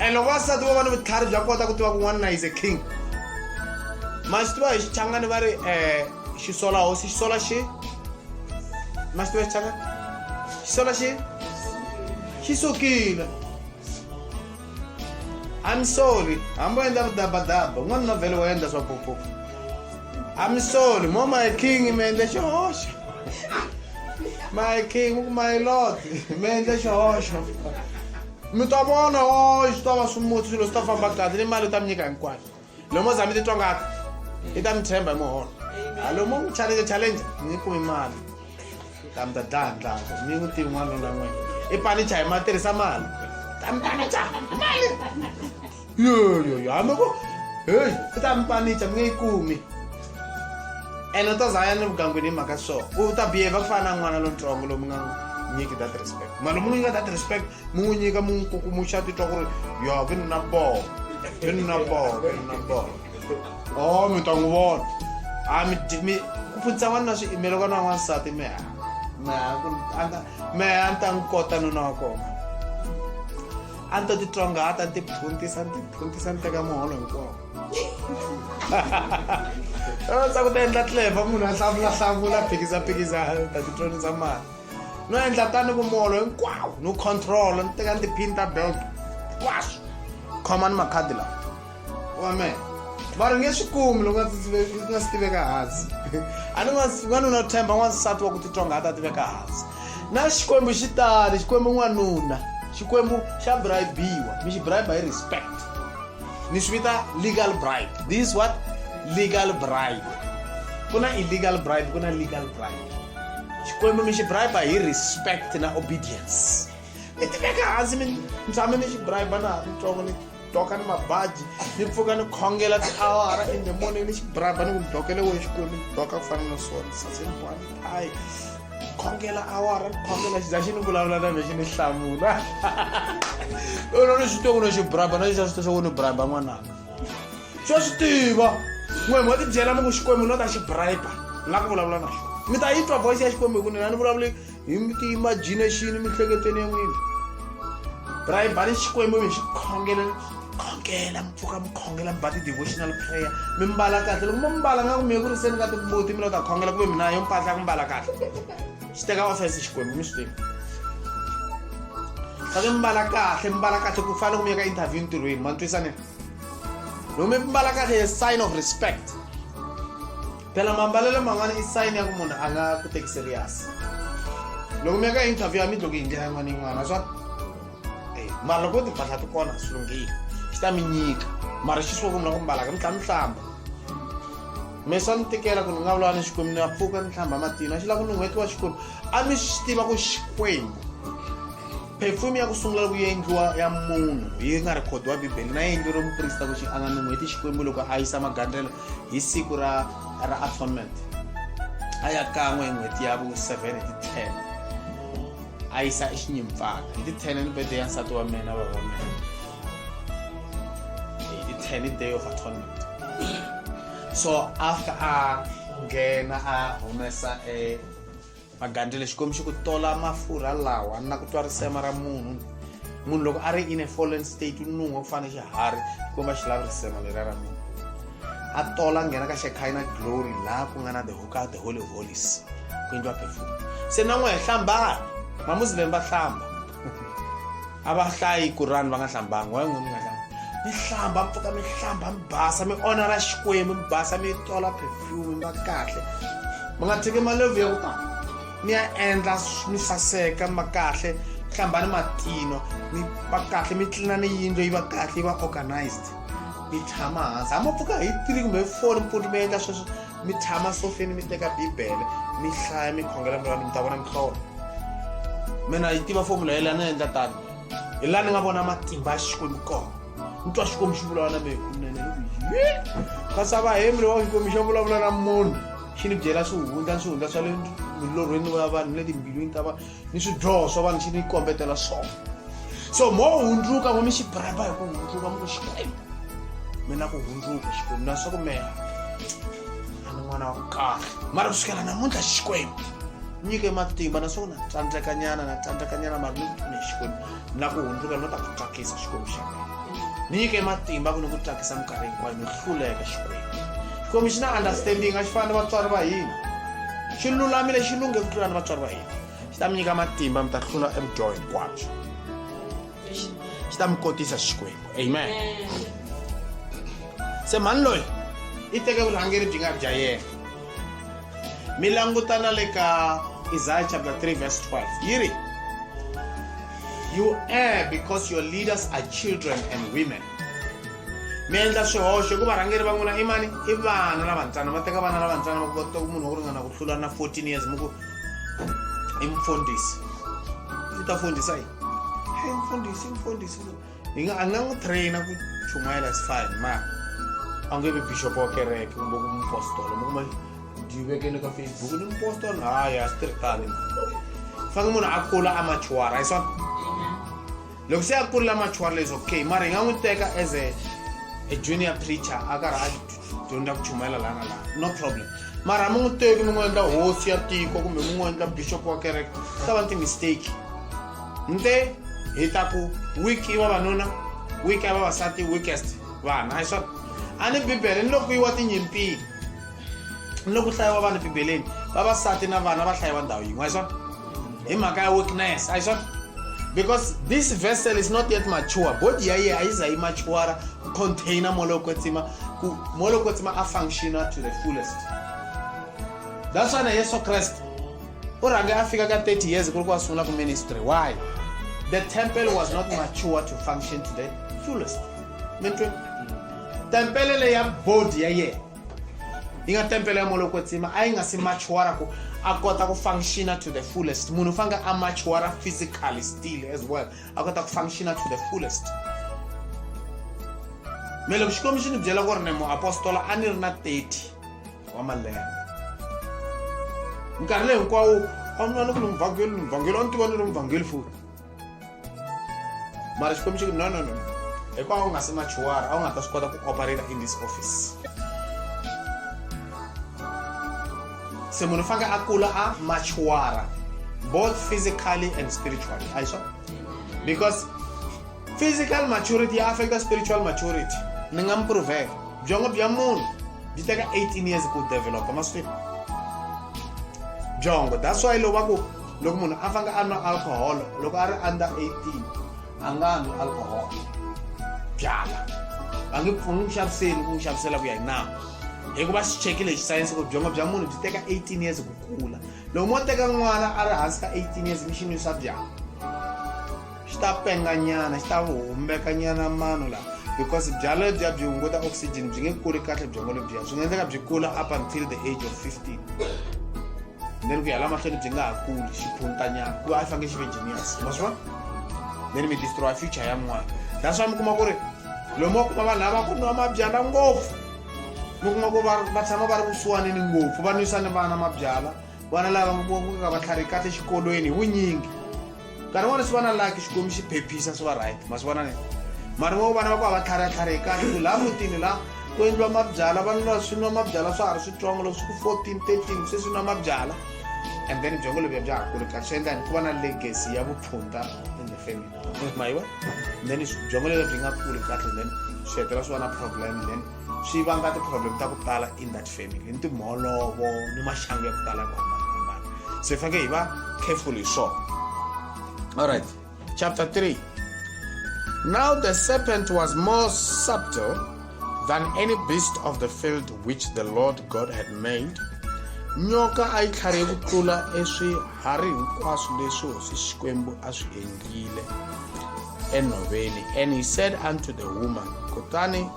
and loko vasati vo va ni vutlhari bya kota ku tiva ku n'wanuna is a king ma swi tiva hi xichangani va ri um eh, xisola hosi xisola xi ma swi tiva hi xichangani xisola xi xi sukile I'm sorry hambo endla vudabadaba un'wana na vhele wa endla swa popo I'm sorry mo my king mi endle xihoxo my king my lord mi endle xihoxo mi ta vona o swi ta va swimutsi swilo swi ta famba kahle ni mali u ta mi nyika hinkwayo lomo za mi titwa ngati i ta mi tshemba hi muholo a lomo n'wi challenge challenge ni kumi mali ta mi ta dlaya ndlaka mi n'wi tivi n'wana lona n'wina i panicha hi ma tirhisa mali ta mi panicha mali yoyoyohamba ku heyi u ta mi panicha mi nge yi kumi ene u ta za a ya ni vugangwini hi mhaka swo u ta biheva ku fana na n'wana lontsongo lomu nga nyiki that respect mali mu n'wi nyika that respect mu n'wi nyika mu n'wi kukumuxa titwa ku ri yo ke ni na boho ke ni na boho ke ni na boho o oh, mi ta n'wi vona a ah, mi ku pfunisa n'wana na swiimelo ka na n'wansati mi ha mi ha ku a nga mi ha ni ta n'wi kota nuna wa kona a ni to titlongata ni tiphunthisa ni tiphunthisa ni teka muholo hinkwawo swa ku ta endla tleva munhu a hlamulahlamula phikisaphikisa ta titlonisa mali no endla tani ku muholo hinkwawo no control ni teka ni tiphini ta belt hinkwaswo khoma ni makhadi lawa amen mara nge swi kumi loko nga si tiveka hansi a ni n'wanuna themba n'wansati wa ku titonga a ta tiveka hansi na xikwembu xi tali xikwembu n'wanuna xikwembu xa bribiwa mi xi bribe hi respect ni swi vita legal bribe this what legal bribe ku na illegal bribe ku na legal bribe xikwembu mi xi bribe hi respect na obedience mi tiveka hansi mi tshame ni xi bribe na ha ri ntsongo doka ni mabaji ni pfuka ni khongela tiawara in the morning ni xibraba ni ku ni dokele wo exikwembu ni doka ku fana na swona saseni one time khongela awara ni khongela xiza xi ni vulavula na vexi ni hlamula lona ni swi tongo no xibraba na xixa swi tisa wo ni briba n'wananga swa swi tiva n'we mo tibyela mi ku xikwembu no ta xi briba ni la ku vulavula na xona mi ta yi twa voice ya xikwembu hi ku nina ni vulavuli hi mi ti imagine xini emiehleketweni ya n'wina rayibani xikwembu mi xi khongela khongela mi pfuka mi khongela mi ba ti-devotional prayer mi mbala kahle loko mo mbala nga ku mi ku ri se ni nga tibuti mi lo ta khongela ku ve mina yo mpahla ku mbala kahle xi teka office xikwembu mi swi tivi fake mbala kahle mbala kahle ku fana loko mi ya ka interview ntirhweni ma ntwisane loko mi mbala kahle sign of respect phela mambalelo man'wana i sayini ya ku munhu a nga ku teki serious loko mi ya ka interview ya mi dloko hi ndlela yin'wana yin'wana swa eh, mara loko timpahla ti kona swi lunghile xi ta mi nyika mara xi swo ku mi la ku mbalaka mi tlha mi hlamba me swa ni tikela ku ni nga vulana xikwembu ni ya pfuka ni hlamba matino a xi lava ku ni n'hweti wa xikwembu a mi swi tiva ku xikwembu perfume ya ku sungula ku endliwa ya munhu yi nga rhikhodiwa bibele na yi endleriwe muprista ku xi a nga ni n'hweti xikwembu loko a yisa magandzelo hi siku ra ra atonement a ya kan'we hi n'hweti ya vu-seven hi ti-ten a yisa exinyimfana hi ti-ten ni bede ya nsati wa mina va va mina hi ti-ten i day of atonement so after a nghena a humesa e magandlela xikombiso ku tola mafurha lawa na ku twa risema ra munhu munhu loko a ri in a fallen state u nun'wa ku fana xiharhi xikomba xi lavi risema leriya ra munhu a tola a nghena ka xekhina glory laha ku nga na the hoka the holy holies ku endliwa perfume se na n'we hlambani mamuslim va hlamba a va hlayi ku rani va nga hlambangi wa n'wini nga hlambi mi hlamba mi pfuka mi hlamba mi basa mi ona ra xikwembu mi basa mi tola perfume mi va kahle mi nga tshiki malevu ya ku ta mi ya endla mi saseka mi va kahle hlamba ni matino mi va kahle mi tlina ni yindlo yi va kahle yi va organized mi tshama hansi hama pfuka hi three kumbe hi four mpfuti mi endla sweswo mi tshama sofeni mi teka bibele mi hlaya mi khongela mi vanhu mi ta vona mihlolo mina yi tiva fomula yeleyi a ni endla tani hi laha ni nga vona matimba ya xikwembu kona ni twa xikwembu xi vulavula na mehe kunene kasava hemi lowa xikwembu xa vulavula na munhu xi ni byela swihundla ni swihundla swa le milorhweni wa vanhu ni le timbilwini ta vanhu ni swidyoho swa vanhu xi ni kombetela swona so mo hundzuka mo mi xi briba hi ku hundzuka mi ku xikwembu mina ku hundzuka xikwembu na swa ku mehe a ni n'wana wa ku kahle mara kusukela namuntlha xikwembu nyike matimba naswona na tsandzekanyana na tsandzekanyana mari ni ku pfune xikwembu na ku hundzuka ni ta ku tsakisa xikwembu xa mina ni nyike matimba ku ni ku tsakisa minkarhi hinkwayo ni hluleka xikwembu xikwembu xi na understanding a xi fani ni vatswari va hina xi lulamile xi lunghe ku tlula ni vatswari va hina xi ta mi nyika matimba mi ta hlula evudyoho hinkwabyo xi ta mi kotisa xikwembu amen se mhani loyi i teke vurhangeri byi nga bya yena mi langutana le ka isaya chapter 3 verse 12 yi ri you err because your leaders are children and women mi endla swihoxo hikuva rhangeri va n'wina i mani i vana lavantsana va teka vana lavantsana va kota munhu wo ringana ku hlula na 14 years mi ku imfundisi u ta fundisa yini hey mfundisi imfundisi hi nga a nga n'wi traina ku chumayela is fine ma a nge vi bishop wa kereke kumbe ku mupostolo mi kuma byi vekele ka facebook ni mupostolo haya swi tirhi tani fange munhu a kula a machuwara hi swona loko se a kurila machuari is okay mara hi nga n'wi teka as a, a junior preacher a karhi a dyondza ku chumayela laha na laha no problem mara mi n'wi teki mi n'wi endla hosi ya tiko kumbe mi n'wi endla bishop wa kereke ta va ti-mistake nte hi ta ku week i vavanuna week ya vavasati weekest vana a hi swona a ni bibele ni loko yi wa tinyimpini ni loko hlayiwa vanhu bibeleni vavasati na vana va hlayiwa ndhawu yin'we a swona hi mhaka ya weakness a swona because this vessel is not yet mature body ya yehe a yi za yi matuara ku container moya lowo kwetsima ku moya lowo kwetsima a functiona to the fullest that's why na yesu krest u rhange a fika ka 30 years ku ri ku a sungula ku ministry why the temple was not mature to function to the fullest mi twe tempele leya body ya yena yi nga tempele ya molokotsima a yi nga si machuara ku a kota ku functiona to the fullest munhu u faneke a machuara physically still as well a kota ku functiona to the fullest me loko xikwembu xi ni byela ku ri ni muapostola a ni ri na 30 wa malembe nkarhi leyi hinkwawo a ni vona ku ni muvhangeli ni muvhangeli a ni tiva ni ri muvhangeli futi mara xikwembu xi ku no no no hikuva a wu nga si machuwara a wu nga ta swi kota ku operate in this office se munhu faneke a kula a machuwara both physically and spiritually a hi swona because physical maturity ya affecta spiritual maturity ni nga mi provela byongo bya munhu byi teka 18 years ku developa maswini byongo that's why loko va ku loko munhu a fanga a nwa alcohol loko a ri under 18 a nga nwi alcohol byala va nge u n'wi xaviseli ku n'wi xavisela ku ya hi nawu hikuva xi chekile hi xisayense ku byongo bya munhu byi teka 18 years ku kula loko mo teka n'wana a ri hansi ka 18 years mi xi nwisa byala xi ta penganyana xi ta humbeka nyana mano lawa because byala lebyiya byi hunguta oxygen byi nge kuli kahle byongo lebyiya byi nga endleka byi kula up until the age of 15 then ku ya la mahlweni byi nga ha kuli xiphunutanyana ku va a fange xi ve genius ma swi vona then mi destroya future ya n'wana that's why mi kuma ku ri lomu wa kuma vanhu lava ku nwa mabyala ngopfu mi kuma ku va tshama va ri kusuwanini ngopfu va nwisa ni vana mabyala vana lava nga va tlhari kahle xikolweni hi vunyingi nkarhi n'wana swi va na laki xikwembu xi phephisa swi va right ma swi vona ni mari vo vana va ku a va tlhariatlhari hi kahle ku laha mutini laha ku endliwa mabyala vanhu lava swi nwa mabyala swa ha ri switsongo loko swi ku fourteen thirteen se swi nwa mabyala and then byongo lebyi bya ha kuli kahle swi endla ni ku va na legacy ya vuphunta in the family mayiwa then byongo lebyi byi nga kuli kahle then swi hetela swi va na problem then swi vanga ti-problem ta ku tala in that family ni timholovo ni maxangu ya ku tala ya ku hambanahambana se hi faneke hi va careful hi swona alright chapter 3 now the serpent was more subtle than any beast of the field which the lord god had made nyoka a yi tlharihe ku tlula eswiharhi hinkwaswo leswi hosi xikwembu a swi endlile enhoveni and he said unto the woman kutani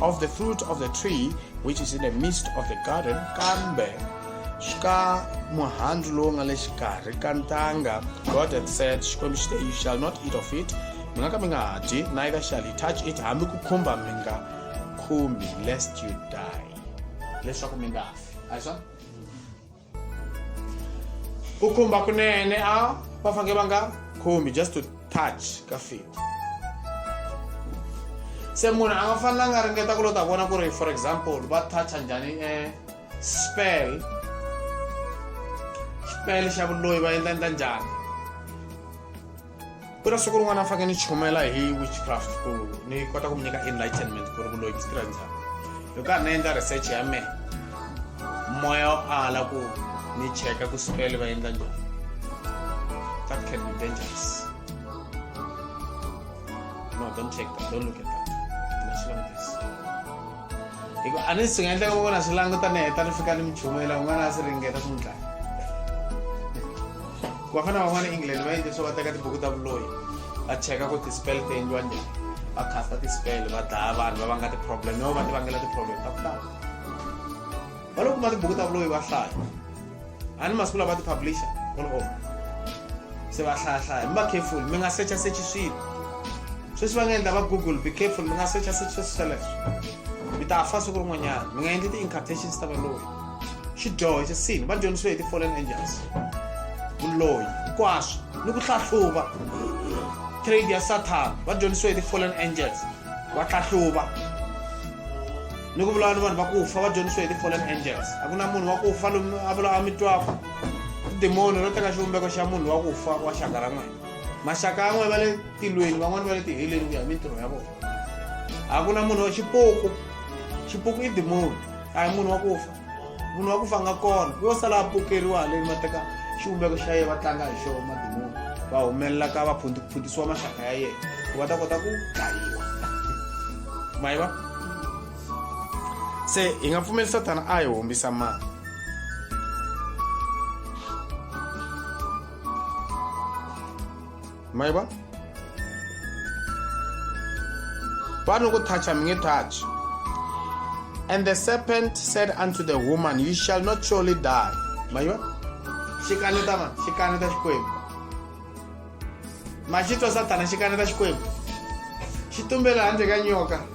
of the fruit of the tree which is in the midst of the garden kambe ka muhandzu lowu nga le xikarhi ka ntanga god had said xikwembu xi te you shall not eat of it mi nga ka mi nga ha dyi neither shall you touch it hambi ku khumba mi nga khumbi lest you die leswaku mi nga fi a hi swona ku khumba kunene a va fange va nga khumbi just to touch ka feet se munhu a nga fanelanga a ringeta ku lo ta vona ku ri for example va toucha njhani e spell xipele xa vuloyi va endla endla njhani ku na siku rin'wana a faneke ni chumela hi witchcraft ku ni kota ku mi nyika enlightenment ku ri vuloyi byi tirha njhani hi karhi ni endla research ya mehe moya wo ala ku ni cheka ku sipele va endla njhani that can be dangerous no don't check that don't look at that hi ku a ni swi nga endleka vona swi languta ni heta ni fika ni mi chumela un'wana a swi ringeta swi n'wi dlaya ku va fana van'wana england va endle swo va teka tibuku ta vuloyi va cheka ku ti-spell ti endliwa njhani va casta ti-spell va dlaya vanhu va vanga ti-problem no va ti vangela ti-problem ta ku tala va lo kuma tibuku ta vuloyi va hlaya a ni masiku lava ti publisha olov se va hlayahlaya mi va careful mi nga secha sechi swilo sweswi va nga endla va google be careful mi nga secha sechi sweswi sweleswo mi ta fa siku rin'wanyana mi nga endli ti-incartations ta valoyi xidyoho xa sini va dyondzisiwe hi ti-fallen angels vuloyi hinkwaswo ni ku hlahluva trade ya satan va dyondzisiwe hi ti-fallen angels va hlahluva ni ku vulavula ni vanhu va ku fa va dyondzisiwe hi ti-fallen angels a ku na munhu wa ku fa lomu a vula a mi twaka tidemoni ro teka xivumbeko xa munhu wa ku fa wa xaka ra n'wina maxaka ya n'wina va le tilweni van'wana va le tiheleni ku ya hi mintirho ya vona a ku na munhu wa xipuku xipuku i demoni a hi munhu wa ku fa munhu wa ku fanga kona yo sala a pokeriwa haleni va teka xivumbeko xa yena va tlanga hi xona madimoni va humelela ka va phundiphundisiwa maxaka ya yena ku va ta kota ku dlayiwa mayi va se hi nga pfumeli satana a hi hombisa mani mai ba pano kuthacha mi nge thachi and the serpent said unto the woman you shall not surely die mai ba xi kaneta ma xi kaneta xikwembu ma xi twa satana xi kaneta xikwembu xi tumbela handle ka nyoka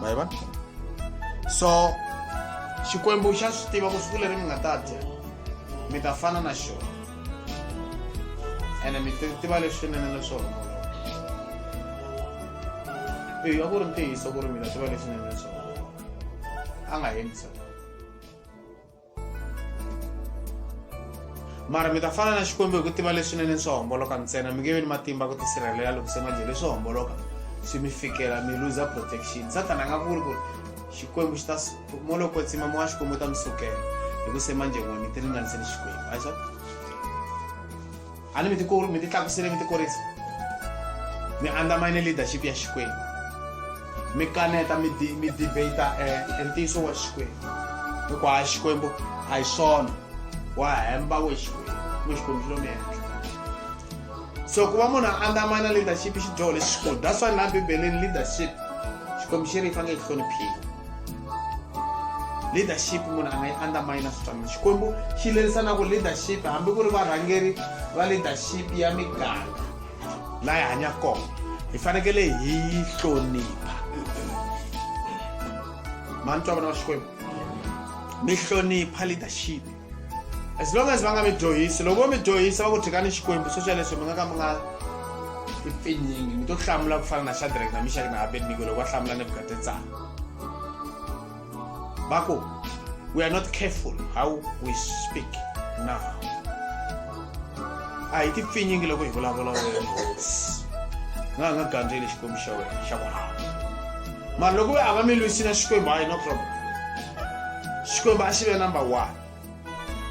maiva so xikwembu xa swi tiva ku siku leri mi nga ta dya mi ta fana na xona ene mi tiva leswinene leswona eyi a ku ri ntiyiso ku ri mina tiva leswinene leswona a nga hembisa mara mi ta fana na xikwembu hi ku tiva leswinene swo homboloka ntsena mi nge vi ni matimba ku tisirhelela loko se majele swo homboloka swi mi fikela mi luza protection satana a nga vuri ku ri xikwembu xi ta mo loko tsima mo wa xikwembu u ta mi sukela hi ku se manjengwani ti ringaniseni xikwembu a swa a ni mi ti mi ti tlakusile mi ti kurisa mi andamine leadership ya xikwembu mi kaneta mi di mi debate eh, e ntiyiso wa xikwembu hikuva a xikwembu a hi swona wa hemba we xikwembu we xikwembu xi lo mi henhla so ku va munhu a andamana leadership i xidyoho lexikulu that's why na bibeleni leadership xikwembu xi ri yi fanele yi hloniphiwa leadership munhu a nga yi undermina switwanano xikwembu xi lerisanaka leadership hambi ku ri varhangeri va leadership ya miganga laha hi hanyaka kona hi fanekele hi yi hlonipha mani twa vona va xikwembu mi hlonipha leadership as long as va nga mi dyohisi loko vo mi dyohisa va ku thikani xikwembu swo swa leswi mi nga ka mi nga ipfinyingi mi to hlamula ku fana na shadrack na mishaki na abednigo loko va hlamula nebukadetsara va ku we are not careful how we speak now a hi ti pfinyingi loko hi vulavula wena hosi nga ha nga gandzeli xikwembu xa wena xa ku hava mara loko a va mi lwisina xikwembu hayi no problem xikwembu a xi ve number one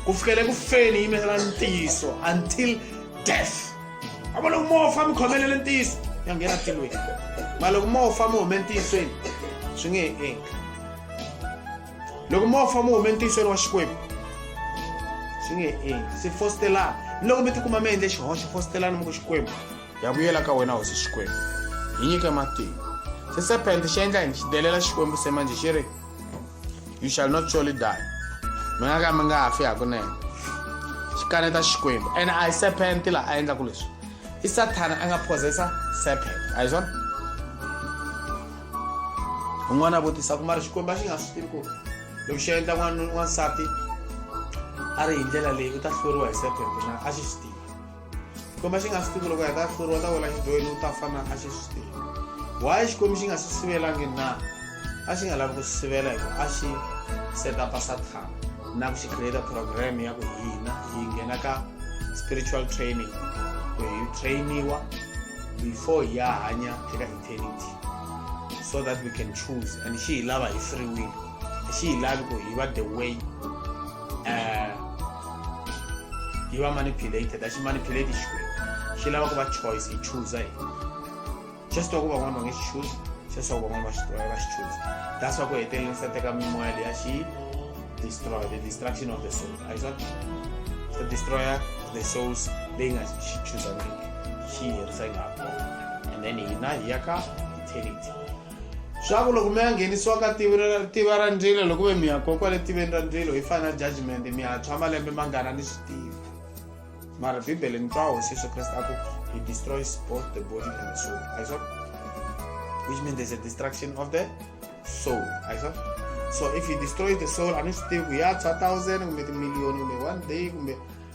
ku fikele ku feni yi yimela ntiyiso until death a va loko mo fa mi khomelele ntiyiso ya nghena tilweni ma loko mo fa mi hume ntiyisweni swi nge he endli loko mo fa mi hume ntiyisweni wa xikwembu swi nge he endli se fositelana ni loko mi tikuma mi endle xihoxo fositelana mi ku xikwembu ya vuyela ka wena hosi xikwembu hi nyike matimba se serpent xi endla yini xi delela xikwembu se manje xi ri you shall not surely die mi nga ka mi nga ha fi hakunene xikaneta xikwembu and i serpent la a endlaku leswi i sathana a nga possessa serpent a hi swona un'wana a vutisa ku mari xikwembu a xi nga swi tivi ku loko xi endla n'wana n'wansati a ri hi ndlela leyi u ta hluriwa hi serpent na a xi swi tivi xikwembu a xi nga swi tivi loko hi ta hluriwa ta wela xidyoheni u ta fana a xi swi tivi why xikwembu xi nga swi sivelangi na a xi nga lavi ku swi sivela hi ku a xi setapa sathana na ku xi create program ya ku hina hi nghena ka spiritual training ku hi trainiwa before hi ya hanya eka eternity so that we can choose and xi hi lava hi free will xi hi lavi ku hi va the way um hi va manipulated a xi manipulate xikwembu xi lava ku va choice hi choosa hi xa swi twa ku van'wana va nge xi choosi xa swi twa ku van'wana va xi twa va xi choosa that's wa ku heteleleni sa teka mimoya leya xi destroy the destruction of the soul a hi swa the destroyer the souls leyi nga xi choosaniki xi herisa yi nga ha kona and then hina hi ya ka eternity swa ku loko mi ya nghenisiwa ka tiva ra ndzilo loko ve mi ya kokwa le tiveni ra ndzilo hi fana judgment mi ya tshwa malembe mangana ni swi tivi mara bibele ni twa hosi yesu kreste a ku he destroys both the body and the soul a swa which means there's a destruction of the soul a swa so if he destroys the soul a ni swi tivi ku ya tshwa thousand kumbe timiliyoni kumbe one day kumbe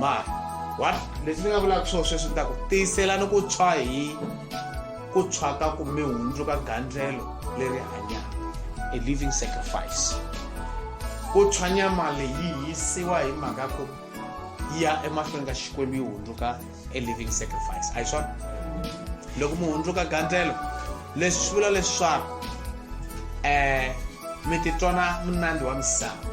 ma what leswi ni nga vulaka swona sweswi ni ta ku tiyiselani ku tshwa hi ku tshwa ka ku mi hundzuka gandlelo leri hanyaka a living sacrifice ku tshwa nyama leyi yisiwa hi mhaka ku yi ya emahlweni ka xikwembu yi hundzuka a living sacrifice a hi swona loko mi hundzuka gandlelo leswi swi vula leswaku um mi titwana munandi wa misava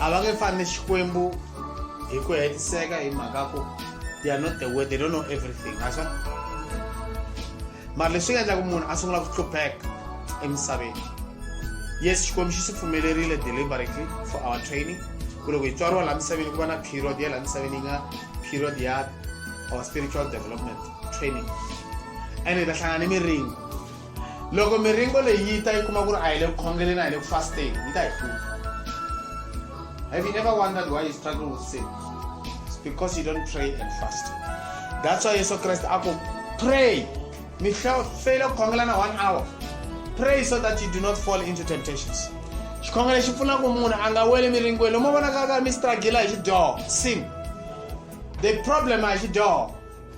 a va nge fani ni xikwembu hi ku hetiseka hi mhaka ku they are not the way they don't know everything aswa mara leswi nga endlaku munhu a sungula ku hlupheka emisaveni yes xikwembu xi swi pfumelerile deliberately for our training ku loko hi tswariwa laha misaveni ku va na period ya laha misaveni yi nga period ya our spiritual development training ene hi ta hlangana ni miringo loko miringo leyi yi ta yi kuma ku ri a yi le ku khongeleni a yi le ku fasteni yi ta yi hlupha have you ever wondered why you struggle with sin It's because you don't pray and fast that's why yesu kreste a ku pray mi feyile ku khongelana one hour pray so that you do not fall into temptations xikhongelo xi pfuna ku munhu a nga weli miringweni lomo vonakaka mi stragila hi xidyoho sin the problem a hi xidyoho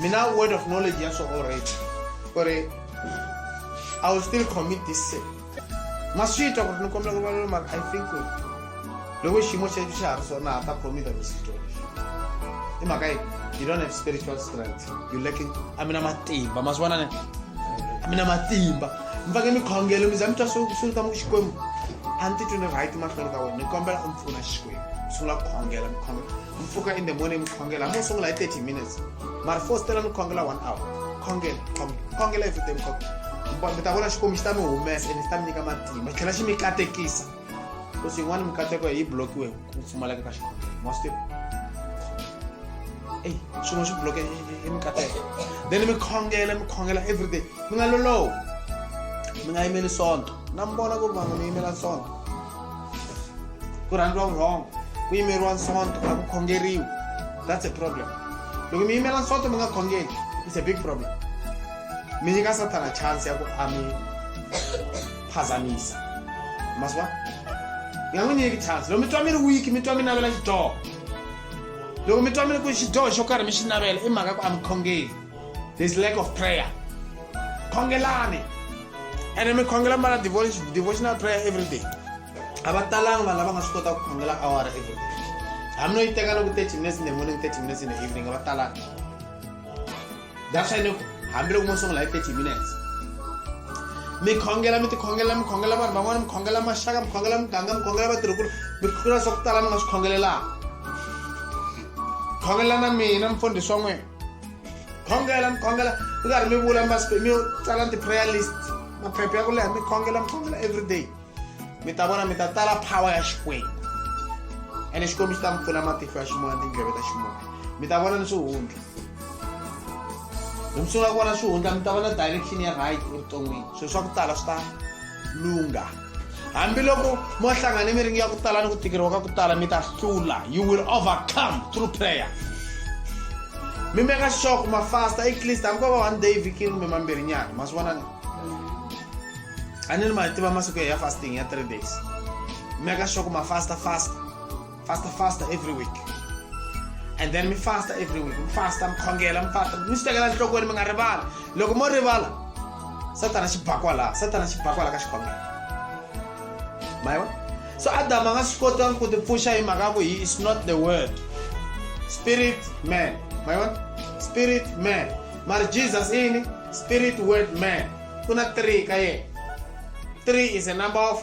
mina word of knowledge ya swona already ku ri i will still commit this sin ma swi twa ku ri ni kombela ku rivalelo mara i think ku loko xiyimo xexo xa ha ri swona ha ta commita visito lexi i mhaka yi you don't have spiritual strength you lacking a mi na matimba ma swi vona ne a mi na matimba mi faneke mi khongelo mi za mi twa swita mu xikwembu a ni titwi ni right mahlweni ka wena ni kombela u mi pfuna xikwembu sungula ku khongela mi khongela mpfuka in the morning khongela mo sungula hi 30 minutes mara fostela ni khongela one hour khongela khongela everyday khongela mi ta vona xikwembu xi ta mi humesa and xi ta mi nyika matimba xi tlhela xi mi katekisa ku swi yin'wana mikateko yi blokiwe ku pfumaleka ka xikhongelo mostive eyi swin'we swi bloke hi mikateko then mi khongela mi khongela everyday mi nga lolowi mi nga yimeli sonto na mi vona ku vanhu mi yimela sonto kurhandwa wrong ku yimeriwa nsonto a ku khongeriwi that's a problem loko mi yimela nsonto mi nga khongeli it's a big problem mi nyika satana chance ya ku a mi phazamisa maswa mi nga n'wi nyiki chance loko mi twa mi ri wiki mi twa mi navela xidyoho loko mi twa mi ri ku xidyoho xo karhi mi xi navela i mhaka ku a mi khongeli This lack of prayer. Khongelani. And I'm khongela mara devotional prayer every day. Abatalang vanhu lava nga swi kota ku khongela awara every day. Hambi no yi teka loko 30 minutes in the morning, 30 minutes in the evening, abatalang. That's why hambi loko mo sungula hi 30 minutes. mi khongela mi tikhongela mi khongela vanhu van'wana mi khongela maxaka mi khongela muganga mi khongela vatirhikulu mi khongela swa ku tala mi nga swi khongelelaka khongelana mina mfundhisi wa n'wina khongela mi khongela mi karhi mi vula masipe mi tsala ti-prayer list maphepha ya ku leha mi khongela mi khongela every day mi ta vona mi ta tala power ya xikwembu ene xikwembu xi ta mi pfula matihlo ya ximoya tindleve ta ximoya mi ta vona ni swihundla loko mi sungula ku vona swihundla mi ta vona direction ya right evuton'wini swilo swa ku tala swi ta lungha hambiloko mo hlangane miringi ya ku tala ni ku tikeriwa ka ku tala mi ta hlula you will overcome through prayer mi meka xixoko mafasta at least hambi ko va one day vikini kumbe mambirhi nyana ma swi vona ni a ni ri ma tiva masiku ya fasting ya three days mi meka xixoko mafasta fasta Faster, faster every week. And then me faster every week. I'm faster, I'm khongela, I'm faster. Mi swi tekela enhlokweni mi nga rivali. Loko mo rivala, Satana xi bakwa laha. Satana xi bakwa laha ka xikhongelo. Mayiwa? So Adam a nga swi kota ku tipfuxa hi mhaka ku he is not the word. Spirit man. Mayiwa? Spirit man. Mara Jesus ini spirit word man. Kuna three ka yena. Three is a number of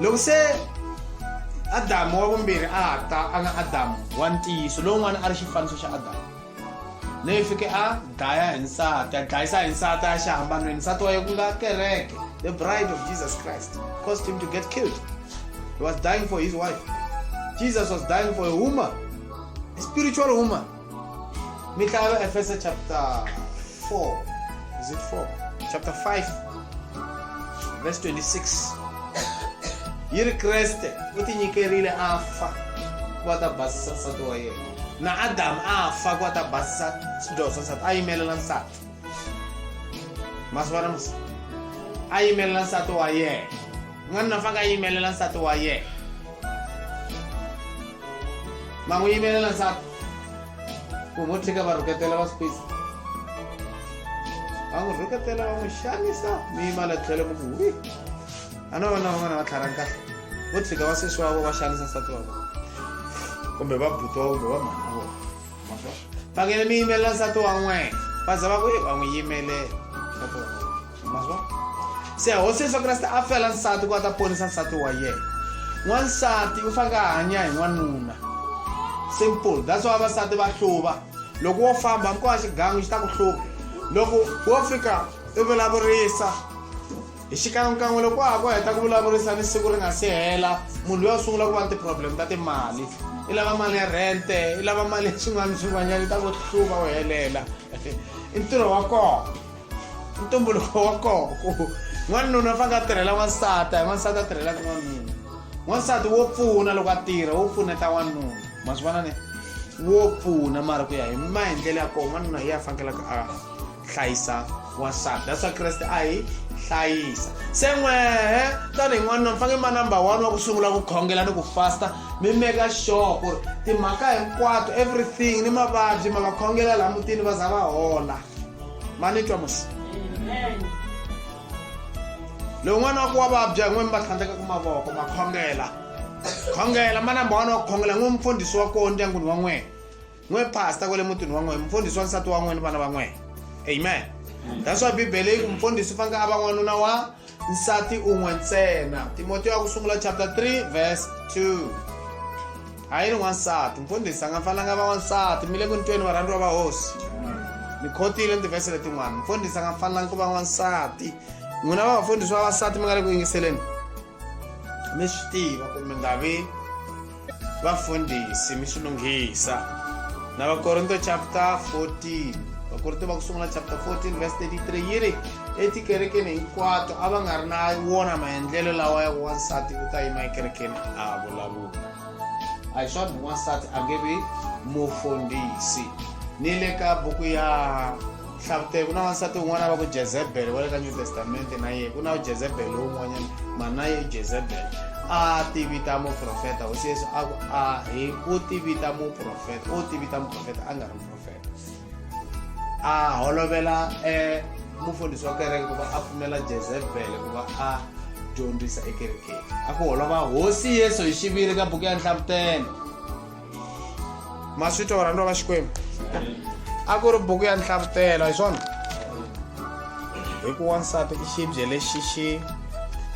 loko se adamu wa vumbirhi a ha ta a nga adamu wa ntiyiso lowun'wana a ri xifaniso xa adamu leyi fike a dlaya hi nsati a dlayisa hi nsati a xihambanweni nsati wa ye ku nga kereke the bride of jesus christ caused him to get killed he was dying for his wife jesus was dying for a woman a spiritual woman mi hlaya vaefesa chapter 4 is it 4 chapter 5 verse 26 yi ri kreste u tinyikerile a fa ku va ta basisa nsati wa yena na adamu a fa ku va ta basisa swidyoho swa nsati a yimelela nsati masivana musa a yimelela nsati wa yena n'wanuna fanga a yimelela nsati wa yena ma n'wi yimelela nsati ku ngo tshika va rhuketela va squeeze va n'wi rhuketela va n'wi xanisa mi yima la tlhelo mi ku wi a no vona van'wana va tlharha kahle vo tshika va sesi wa vo va xanisa nsati wa vona kumbe va buti wa kumbe va mhana vona fanele mi yimelela nsati wa n'wena va za va ku va n'wi yimelela nsati wa n'wena mazwa se hosi yesu kreste a fela nsati ku a ta ponisa nsati wa yena n'wansati u faneke a hanya hi n'wanuna simple that's why vavasati va hluva loko wo famba hambi ko va xigangu xi ta ku hluva loko wo fika i vulavurisa hi xikan'wekan'we loko wa ha ku heta ku vulavurisa ni siku ri nga si hela munhu loyi a sungula ku va ni ti-problem ta timali i lava mali ya rente i lava mali ya swin'wana swin'wanyana i ta ku hluva u helela i ntirho wa kona ntumbuluko wa kona ku n'wanuna u fanele a tirhela n'wansati a n'wansati a tirhelaka n'wanuna n'wansati wo pfuna loko a tirha wo pfuneta n'wanuna ma swi vona ne wo pfuna mara ku ya hi ma hi ndlela ya kona n'wanuna hi ya fanekelaka a hlayisa wansati that's why kreste a hi hlayisa se n'wehe tanihi n'wanuna mi fanele ma number one wa ku sungula ku khongela ni ku fasta mi meka sure ku ri timhaka hinkwato everything ni mavabyi ma va khongela laha mutini va za va hola manitwa musi loyi n'wana wa ku wa vabya hi n'wini va tlhandleka ku mavoko ma khongela khongela ma namba wani wa ku khongela n'wi mufundhisi wa koho ndyangwini wa n'wina n'wi pasta kwale mutini wa n'wina mufundhisi wa nsati wa n'wina vana va n'wina amen that's why bibele yi ku mufundhisi u faneke a va n'wanuna wa nsati un'we ntsena timoteyo wa ku sungula chapter 3 verse 2 a yi ri n'wansati mfundhisi a nga fanelanga va n'wansati mi le ku ntweni varhandziwa va hosi mi khotile ni tivhese letin'wana mfundhisi a nga fanelanga ku va n'wansati n'wina va vafundhisi va vasati mi nga le ku yingiseleni mi swi tiva ku mi nga vi vafundhisi mi swi lunghisa na vakorinto chapter 14 vakorinto va ku sungula chapter 14 verse 33 yi ri etikerekeni hinkwato a va nga ri na wona maendlelo lawa ya wansati u ta yima ekerekeni a vulavula a hi swona wansati a nge vi mufundhisi ni le ka buku ya hlavute ku na wansati un'wana va ku jezebele wa le ka new testamente na yena ku na ujezebele lowun'wanyana mana ye ujezebele a ti vita muprofeta hosi yesu a ku a hi u ti vita muprofeta u ti vita muprofeta a nga ri muprofeta a holovela um mufundhisi wa kereke ku va a pfumela jezebele ku va a dyondzisa ekerekeni a ku holova hosi yesu hi xiviri ka buku ya nhlavutelo ma swi twa varhandziwa va xikwembu a ku ri buku ya nhlavutelo hi swona hi ku wansati i xibye lexi xi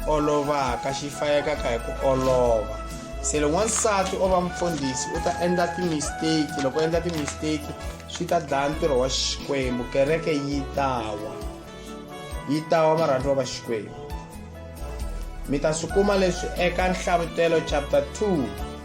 olovaka xi fayekaka hi ku olova se loko wansati o va mfundhisi u ta endla timisteki loko endla timisteki swi ta dlaya ntirho wa xikwembu kereke yi tawa yi tawa marhandziwa va xikwembu mi ta swi kuma leswi eka nhlavutelo chapter 2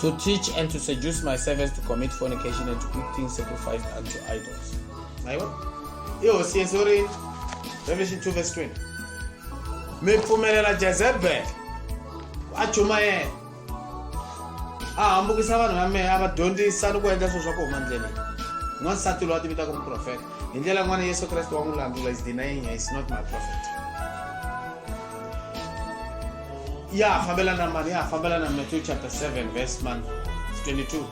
To teach and to seduce my servants to commit fornication and to eat things sacrificed unto idols. Ayiwa. Ihosi Yesu ri Revelation 2 verse 20. Mi pfumelela Jezebel a chumayela a hambukisa vanhu va mehe a va dyondzisa ni ku endla swilo swa ku huma ndleleni n'wansati loyi a ti vitaka muprofeta hi ndlela yin'wana yesu kreste wa n'wi landzula is denying is not my prophet Yeah, Fabella Naman. Yeah, Fabella Naman, Matthew chapter 7, verse 1, 22.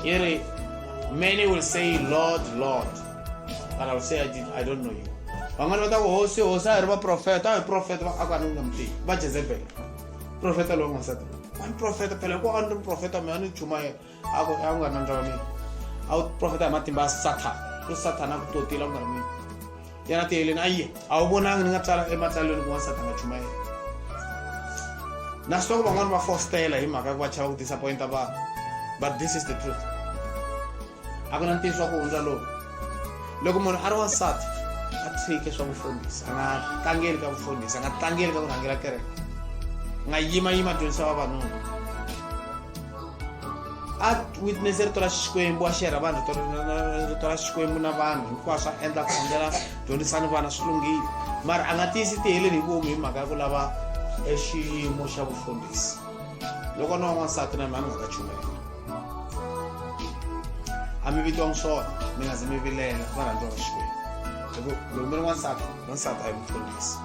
Here, many will say, Lord, Lord. But I will say, I, did, I don't know you. vamwani va ta ku hosi hosi a hi ri vaprofeta a hi profeta va aka ni nga mi tivi va jezebele profeta lowu n'wansati wa ni profeta phela ku a ni ri profeta mina ni chumayela akunganandaone auprofeta amatimba asathana usathana akutotile akungamini yena tiheleni ayiye awubonanga ni nga tsala ematsalweni kun'wana sathana nga chumayela na swi loko van'wani va fostela hi mhaka ku va chava ku disappointa vanhu but this is the truth a ku na ntiyiso wa ku hundza lowu loko munhu a ri wansati a tshike swa vufundhisi a nga tlangeli ka vufundhisi a nga tlangeli ka ku rhangela kereke a nga yimayima dyondzisa vavanuna a witness rito ra xikwembu a xerha vanhu rito ra xikwembu na vanhu hinkwaswo a endla khongela dyondzisani vana swi lunghile mara a nga tiyisi tiheleni hi vomu hi mhaka ya ku lava e xiyimo xa vufundhisi loko na wan'wansati na mhani nga ta chumela a mi vitiwangi swona mi nga zi mi vilela va rhandziwa va xikwembu hi ku loyi mi ri n'wansati n'wansati a hi mufundhisi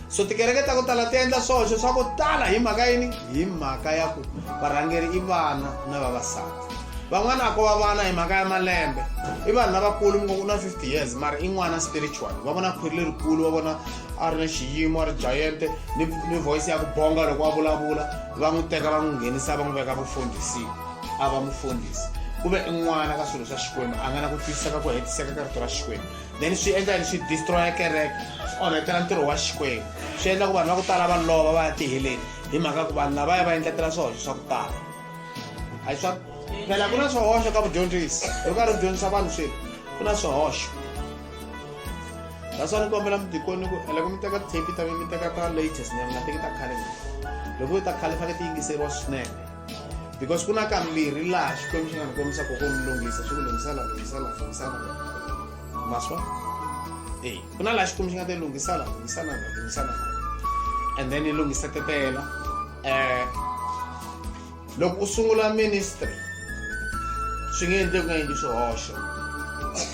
So tikereke ta ku tala ti endla swihoxo swa ku tala hi mhaka yini? Hi mhaka ya ku varhangeri i vana na vavasati. Van'wana a ko va vana hi mhaka ya malembe. I vanhu lavakulu mi ngo ku na 50 years mara i n'wana spiritual. Va vona khwiri lerikulu va vona a ri na xiyimo a ri giant ni, ni voice ya ku bonga loko a vulavula va n'wi teka va n'wi nghenisa va n'wi veka vufundhisini a va mufundhisi ku ve i n'wana ka swilo swa xikwembu a nga na ku twisisa ka ku hetiseka ka rito ra xikwembu then swi endla yini swi destroya kereke swi onhetela ntirho wa xikwembu swi endla ku vanhu va ku tala va lova va ya tiheleni hi mhaka ku vanhu lava ya va endletela swihoxo swa ku tala a swa phela ku na swihoxo ka vudyondzisi hi karhi u dyondzisa vanhu swilo ku na swihoxo naswona ni kombela mudikoni ku loko mi teka tape ta mi teka ta latest nyana mi nga teki ta khale loko yi ta khale faneke ti yingiseriwa swinene because ku na kambirhi laha xikwembu xi nga ni kombisa koko ni lunghisa xi ku lunghisa la lunghisa la lunghisa la maswa e ku na laha xikwembu xi nga te lunghisa la lunghisa la lunghisa la and then yi lunghisa tetela um loko u sungula ministry swi nge endle ku nga endli swihoxo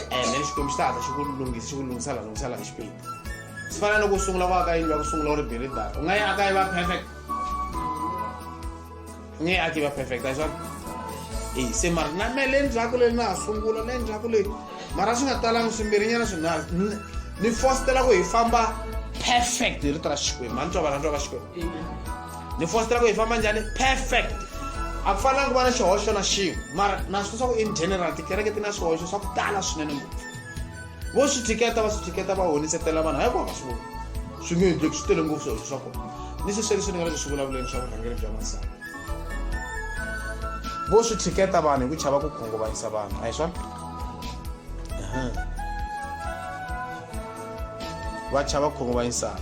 and then xikwembu xi ta hatla xi ku lunghisa xi ku lunghisa la lunghisa la hi xipidi swi fana loko u sungula ku aka yindlu ya ku sungula u ri biridara u nga yi aka yi va perfect ni a tiva perfect a swona e se mara na me le ndzhaku le na ha sungula le ndzhaku le mara swi nga talanga swimbirinyana swinharhu ni fositela ku hi famba perfect hi rito ra xikwembu a ni twa vanantwa va xikwembu ni fositela ku hi famba njhani perfect a ku fanelanga ku va na xihoxo na xin'we mara na swi leswaku in general tikereke ti na swihoxo swa ku tala swinene ngopfu vo swi thiketa va swi thiketa va honisetela vanhu hayi ku va ka swi vona swi nge endleki swi tele ngopfu swilo swa kona ni sweswi leswi ni nga le ku swi vulavuleni swa vurhangeri bya masana vo swi thiketa vanhu hi ku chava ku khunguvanyisa vanhu a hi swona va chava khunguvanyisana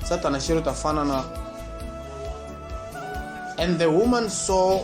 satana xi ri ta fana na and the woman saw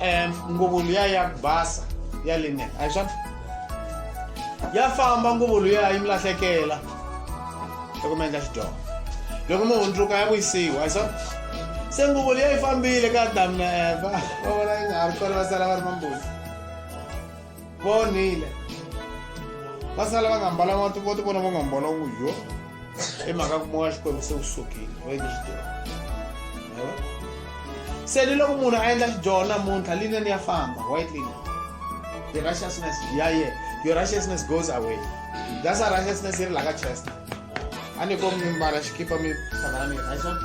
em, nguvu liya ya ku basa ya linen a hi swona ya famba nguvu liya yi mi lahlekela loko mi endla xidyoho loko mi hundzuka ya vuyisiwa a hi swona se nguvu liya yi fambile ka adamu na eva va vona yi nga ha ri kona va sala va ri mambuzi vonile va sala va nga mbalanga ti vo ti vona va nga mbala ku yo i mhaka ku moya xikwembu se wu sukile va endle xidyoho se ni loko munhu a endla xidyoho namuntlha lineni ya famba white linen the righteousness ya ye your righteousness goes away that's a righteousness yi ri laka chest a ni ko mi mbala xikipa mi hlangana mi hi swona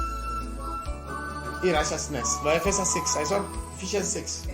i righteousness vaefesa 6 hi swona ephesians 6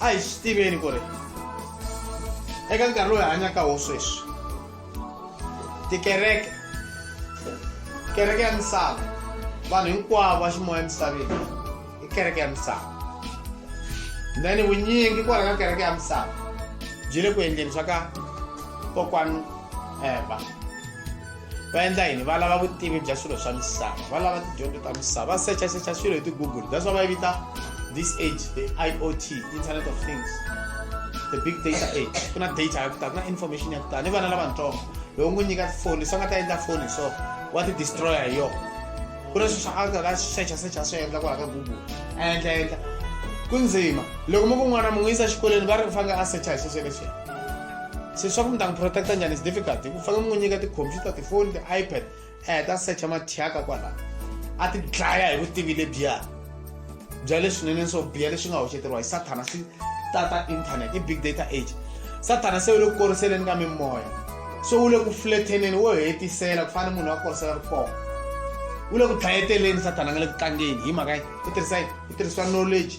a hi swi tiveni ku ri eka nkarhi lowu hi hanyaka wo sweswi tikereke kereke ya misava vanhu hinkwavo va ximoya emisaveni i kereke ya misava then vunyingi kwala ka kereke ya misava byi le ku endleni swa ka kokwani eva eh, va endla yini va lava vutivi bya swilo swa misava va lava tidyondzo ta misava va secha secha swilo hi ti-google that's why va yi vita this age the i o t internet of things the big data age ku na data ya ku tala ku na information ya ku tala ni vana lavatsongo loko n'wi nyika tifoni se nga ta endla foni so wa ti destroya hi yona ku na sweswi a nga ka secha secha swi endla kwala ka google a endla endla ku ndzima loko mi ku n'wana mi n'wi yisa exikolweni va ri ku fanele a secha hi swesweleswena se leswaku mi ta n'wi protecta njhani is difficult hi ku fanele mi n'wi nyika ti-computer tifoni ti-ipad a heta secha mathyaka kwalaho a ti dlaya hi vutivi lebyiya bya leswinene swo biya leswi nga hoxeteriwa hi sathana swi tata internet i big data age sathana se wu le ku koriseleni ka mimoya so wu le ku fletheneni wo hetisela ku fana ni munhu wa korisela ri kona wu le ku dlayeteleni sathana nga le ku tlangeni hi mhaka yi ku tirhisa yi ku tirhisiwa knowledge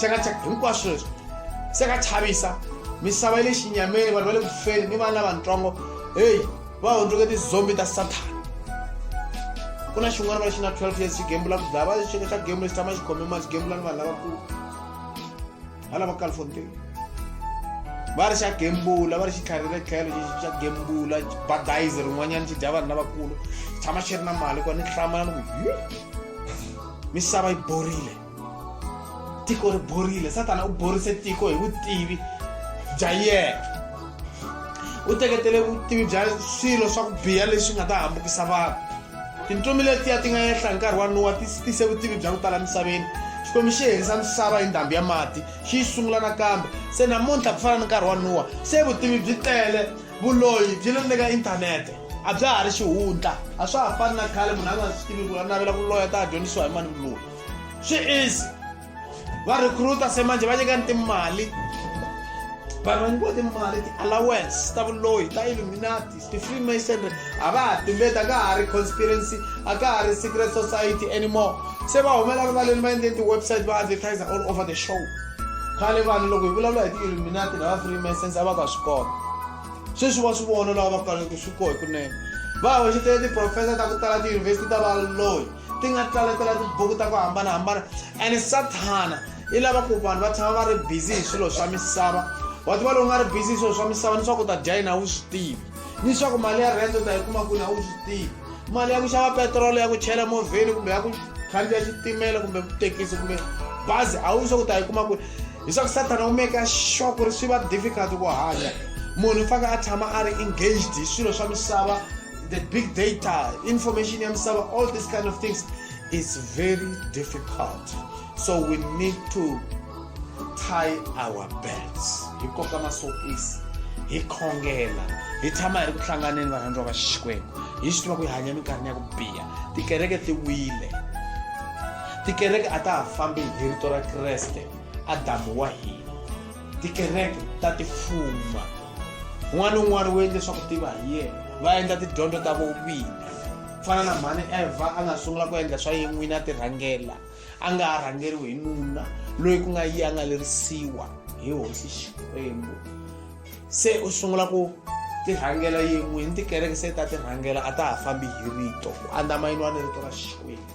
chakachaka hinkwaswo leswi se ka chavisa misava yi le xinyameni vanhu va le kufeni ni vana lavatsongo heyi va hundzuke tizombi ta sathana ku na xin'wana va lexi na 12 years xi gembula ku dlaya va xeka xa gembula xi tshama xi khome mali xi gembula ni vanhu lavakulu va lava califontain va ri xa gembula va ri xi tlharele tlhelo xexi xa gembula badize rin'wanyana xi dya vanhu lavakulu xi tshama xi ri na mali kona ni hlamala ni ku hi misava yi borile tiko ri borile satana u borise tiko hi vutivi bya yena u teketele vutivi bya swilo swa ku biha leswi nga ta hambukisa vanhu tintsumi letiya ti nga yehla hi nkarhi wa nuwa ti tise vutivi bya ku tala misaveni xikwembu xi herisa misava hi ndhambi ya mati xi yi sungula nakambe se namuntlha ku fana ni nkarhi wa nuwa se vutivi byi tele vuloyi byi le ni le ka inthanete a bya ha ri xihundla a swa ha fani na khale munhu a nga swi tivi ku a navela ku loya ta ha dyondzisiwa hi mani vuloyi swi easy va recruiter se manje va nyikani timali vanhu va nyikiwa timali ti-allowance ta vuloyi ta illuminati ti-freemasonry a va ha tumbeti a ka ha ri conspiracy a ka ha ri secret society anymore se va humela rivaleni va endleni ti-website va advertise all over the show khale vanhu loko hi vulavula hi ti-illuminati na va-freemasons a va ka swi kona sweswi va swi vona lava va kaleke swi kohi kunene va hoxetele tiprofesa ta ku tala tiyunivhesiti ta valoyi ti nga tlaletela tibuku ta ku hambanahambana and sathana i lava ku vanhu va tshama va ri busy hi swilo swa misava wa tiva lowu nga ri busy hi swilo swa misava ni swa ku ta dya yini a wu swi tivi ni swa ku mali ya rent u ta yi kuma kwini a wu swi tivi mali ya ku xava petirolo ya ku chela movheni kumbe ya ku khandziya xitimela kumbe tekisi kumbe bazi a wu swa ku ta yi kuma kwini hi swa ku sathana u meka sure ku ri swi va difficult ku hanya munhu u faneke a tshama a ri engaged hi swilo swa misava the big data information ya misava all these kind of things is very difficult so we need to tie our belts hi koka masokisi hi khongela hi tshama hi ri ku hlanganeni varhandziwa va xikwembu hi swi tiva ku hi hanya minkarhini ya ku biha tikereke ti wile tikereke a ta ha fambi hi rito ra kreste adamu wa hina tikereke ta tifuma un'wana ni un'wana wu endle swa ku tiva hi yena va endla tidyondzo ta vovini ku fana na mhani evha a nga sungula ku endla swa yini n'wini a ti rhangela a nga ha rhangeriwi hi nuna loyi ku nga yi a nga lerisiwa hi hosi xikwembu se u sungula ku ti rhangela yin'wini tikereke se ta ti rhangela a ta ha fambi hi rito ku andzamayiniwa ni rito ra xikwembu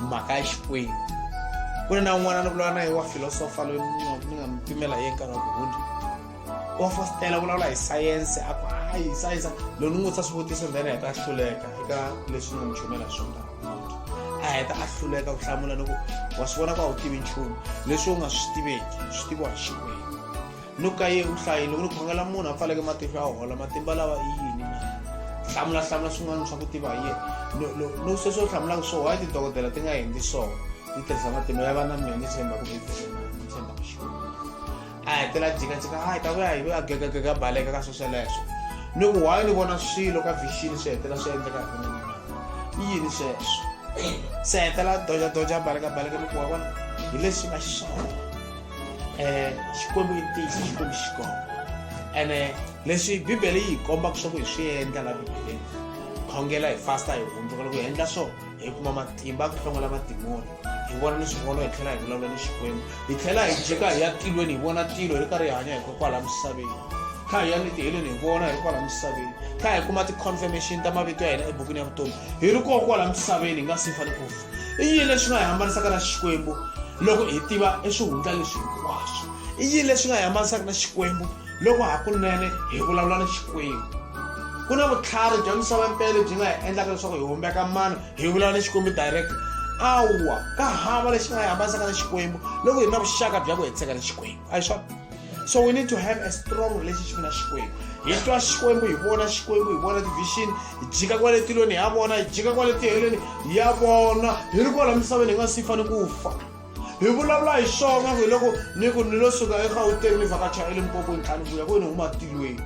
mhaka ya xikwembu ku ri na un'wana ni vulavula na ye wa filosofa loyi ni nga mi pimela ye nkarhi wa ku hundza wa fositela vulavula hi sayense a ku hayi sayense loyi ni n'wi vutisa swivutiso ndhena heta a hluleka eka leswi ni nga mi chumela swona a heta a hluleka ku hlamula ni ku wa swi vona ku a wu tivi nchumu leswi u nga swi tiveki swi tiviwa hi xikwembu no ka ye u hlayile ku ri khongela munhu a pfaleke matihlo ya hola matimba lawa i yini na hlamula hlamula swin'wana swa ku tiva hi yena no sweswi u hlamulaka swo why tidokodela ti nga endli swona ti tirhisa matimba ya vana mina ni tshemba ku bibelena ni tshemba ku xikwembu a hetela jikajika a hi ta vuya hi a gegagega baleka ka swesweleswo ni ku why ni vona swilo ka vixini swi hetela swi endleka hi mina i yini sweswo se hetela doja doja baleka baleka ni ku wa vona hi leswi nga xiswona xikwembu i ntiyiso xikwembu xi kona ene leswi bibele yi hi kombaka swa ku hi swi endla la bibeleni khongela hi fasta hi hundzuka loko hi endla swo hi kuma matimba ku hlongola madimoni hi vona ni swivono hi tlhela hi vulavula ni xikwembu hi tlhela hi jeka hi ya tilweni hi vona tilo hi ri karhi hi hanya hikokwala misaveni kha hi ya ni tiheleni hi vona hi ri kwala misaveni kha hi kuma ti-confirmation ta mavito ya hina ebukwini ya vutomi hi ri kokwala misaveni hi nga si fane ku fa i yini leswi nga hi hambanisaka na xikwembu loko hi tiva eswihundla leswi hinkwaswo i yini leswi nga hi hambanisaka na xikwembu loko hakunene hi vulavula na xikwembu ku na vutlhari bya misava mpele byi nga hi endlaka leswaku hi humbeka mano hi vulavula na xikwembu direct awa ka hava lexi nga hi hambanisaka na xikwembu loko hi ri na vuxaka bya ku hetseka na xikwembu a hi swona so we need to have a strong relationship na xikwembu hi twa xikwembu hi vona xikwembu hi vona tivision hi jika kwale tilweni ya vona hi jika kwale tiheleni ya vona hi ri kwala misaveni hi nga si fane ku fa hi vulavula hi swona ku hi loko ni ku ni lo suka egauteng ni vhakacha elimpopweni tlani vuya ku ni huma tilweni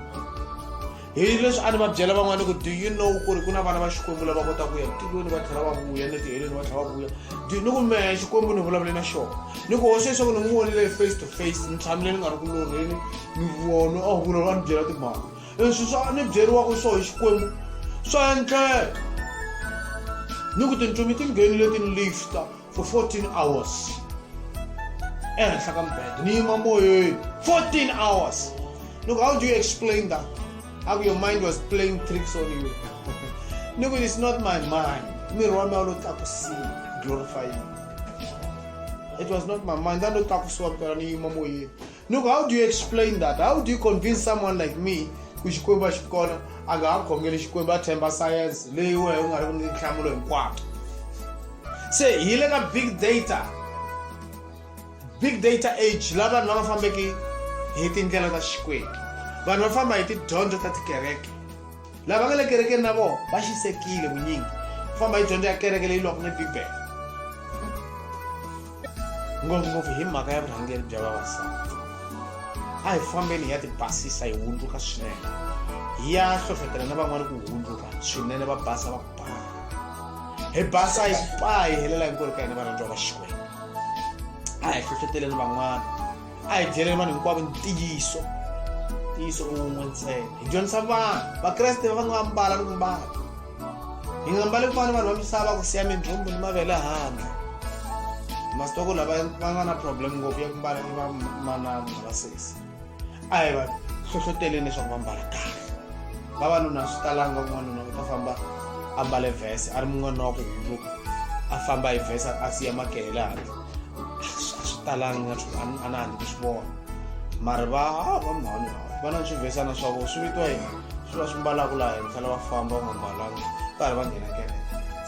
hi leswi a ni va byela van'wana ku do you know ku ri ku na vana va xikwembu lava kota ku ya tilweni va tlhela va vuya ni tiheleni va tlhela va vuya do ni ku mehe xikwembu ni vulavule na xona ni ku hoxe leswaku ni n'wi vonile face to face ni tshamile ni nga ri ku lorheni ni vona a vula va ni byela timhaka leswi swa ni byeriwaka swo hi xikwembu swa endleka ni ku tintsumi ti nghenile ti ni lifta for 14 hours ehenhla ka mbhedo ni yima moyeni 14 hours look how do you explain that how your mind was playing tricks on you look it is not my mind miri wa mina wu lo tlakusiwa glorifying it was not my mind a lo tlakusiwa mpela ni yima moyeni Look, how do you explain that? How do you convince someone like me ku xikwembu a xi kona a nga ha khongeli xikwembu a themba sayense leyi wena u nga ri ni nhlamulo hinkwayo se hi le ka big data big data age la vanhu lava fambeki hi tindlela ta xikwembu vanhu va famba hi tidyondzo ta tikereke lava nga le kerekeni na vona va xisekile vunyingi ku famba hi dyondzo ya kereke leyi lwaka ni bibele ngopfungopfu hi mhaka ya vurhangeri bya vavasati a hi fambeni hi ya tibasisa hi hundzuka swinene hi ya hlohlotela na van'wana ku hundzuka swinene va basa va ba hi basa hi ba hi helela hinkwerhu ka hina varhandziwa va xikwembu a hi hlohloteleni van'wana a hi byeleni vanhu hinkwavo ntiyiso ntiyiso un'we ntsena hi dyondzisa vanhu vakreste va fanele va mbala ni ku mbala hi nga mbali ku fana vanhu va misava ku siya mindhumbu ni mavele handle masitoko lava va nga na problem ngopfu ya ku mbala ni vamanana na vasesi a hi va hlohloteleni leswaku va mbala kahle vavanuna swi talanga n'wanuna u ta famba a mbale vhese a ri mun'wana wa ku hundzuka a famba hi vhese a siya makele le handle swi talanga nga swi a na handle swi vona mari va ah, va mhani va na swivesana swa vona swi vitiwa yini swi va swi mbalaka laha henhla lava famba va nga mbalanga karhi va nghena kereke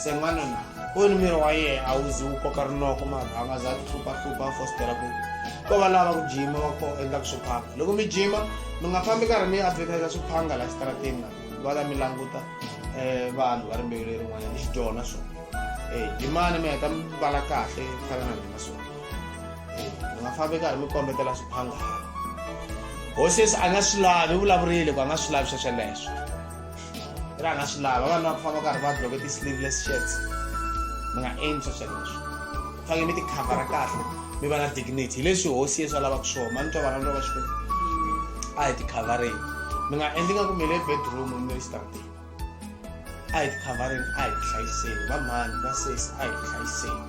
se n'wana na kuni miri wa yena a wu zi wu koka rinoko mari a nga za ti hluphahlupha a fositela ku ko va lava ku jima va ko endlaka swiphanga loko mi jima mi nga fambi karhi mi advertisa swiphanga laha xitarateni na va ta mi languta um vanhu va rimbewu lerin'wanyana i xidyoho na swona Eh, jimani mi heta mi vala kahle ku fana na mina swona eh, mi nga fambi karhi mi kombetela swiphangana hosi yesu a nga swi lavi u vulavurile ku a nga swi lavi swa sweleswo ri a nga swi lava vanhu va ku famba karhi va bloke ti-sleeveless shirts mi nga endli swa sweleswo fanele mi tikhavhara kahle mi va na dignity hi leswi hosi yesu a lavaka swona mani twa vana lova xikwembu a hi tikhavhareni mi nga endli nga ku mi le bedroom mi ri xitrateni a hi tikhavareni a hi tihlayiseni vamhani va sesi a hi tihlayiseni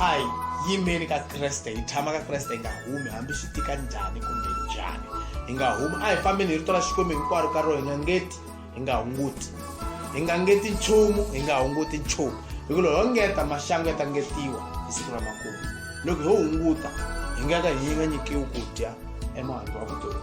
a hi yimeni ka kreste hi tshama ka kreste hi nga humi hambi swi tika njhani kumbe njhani hi nga humi a hi fambeni hi rito ra xikwembu hinkwaro ka rona hi nga ngeti hi nga hunguti hi nga ngeti nchumu hi nga hunguti nchumu hi ku loko ho ngeta maxangu ya ta ngetiwa hi siku ra makumu loko ho hunguta hi nga ka hi nga nyikiwi ku dya emahandle wa vutomi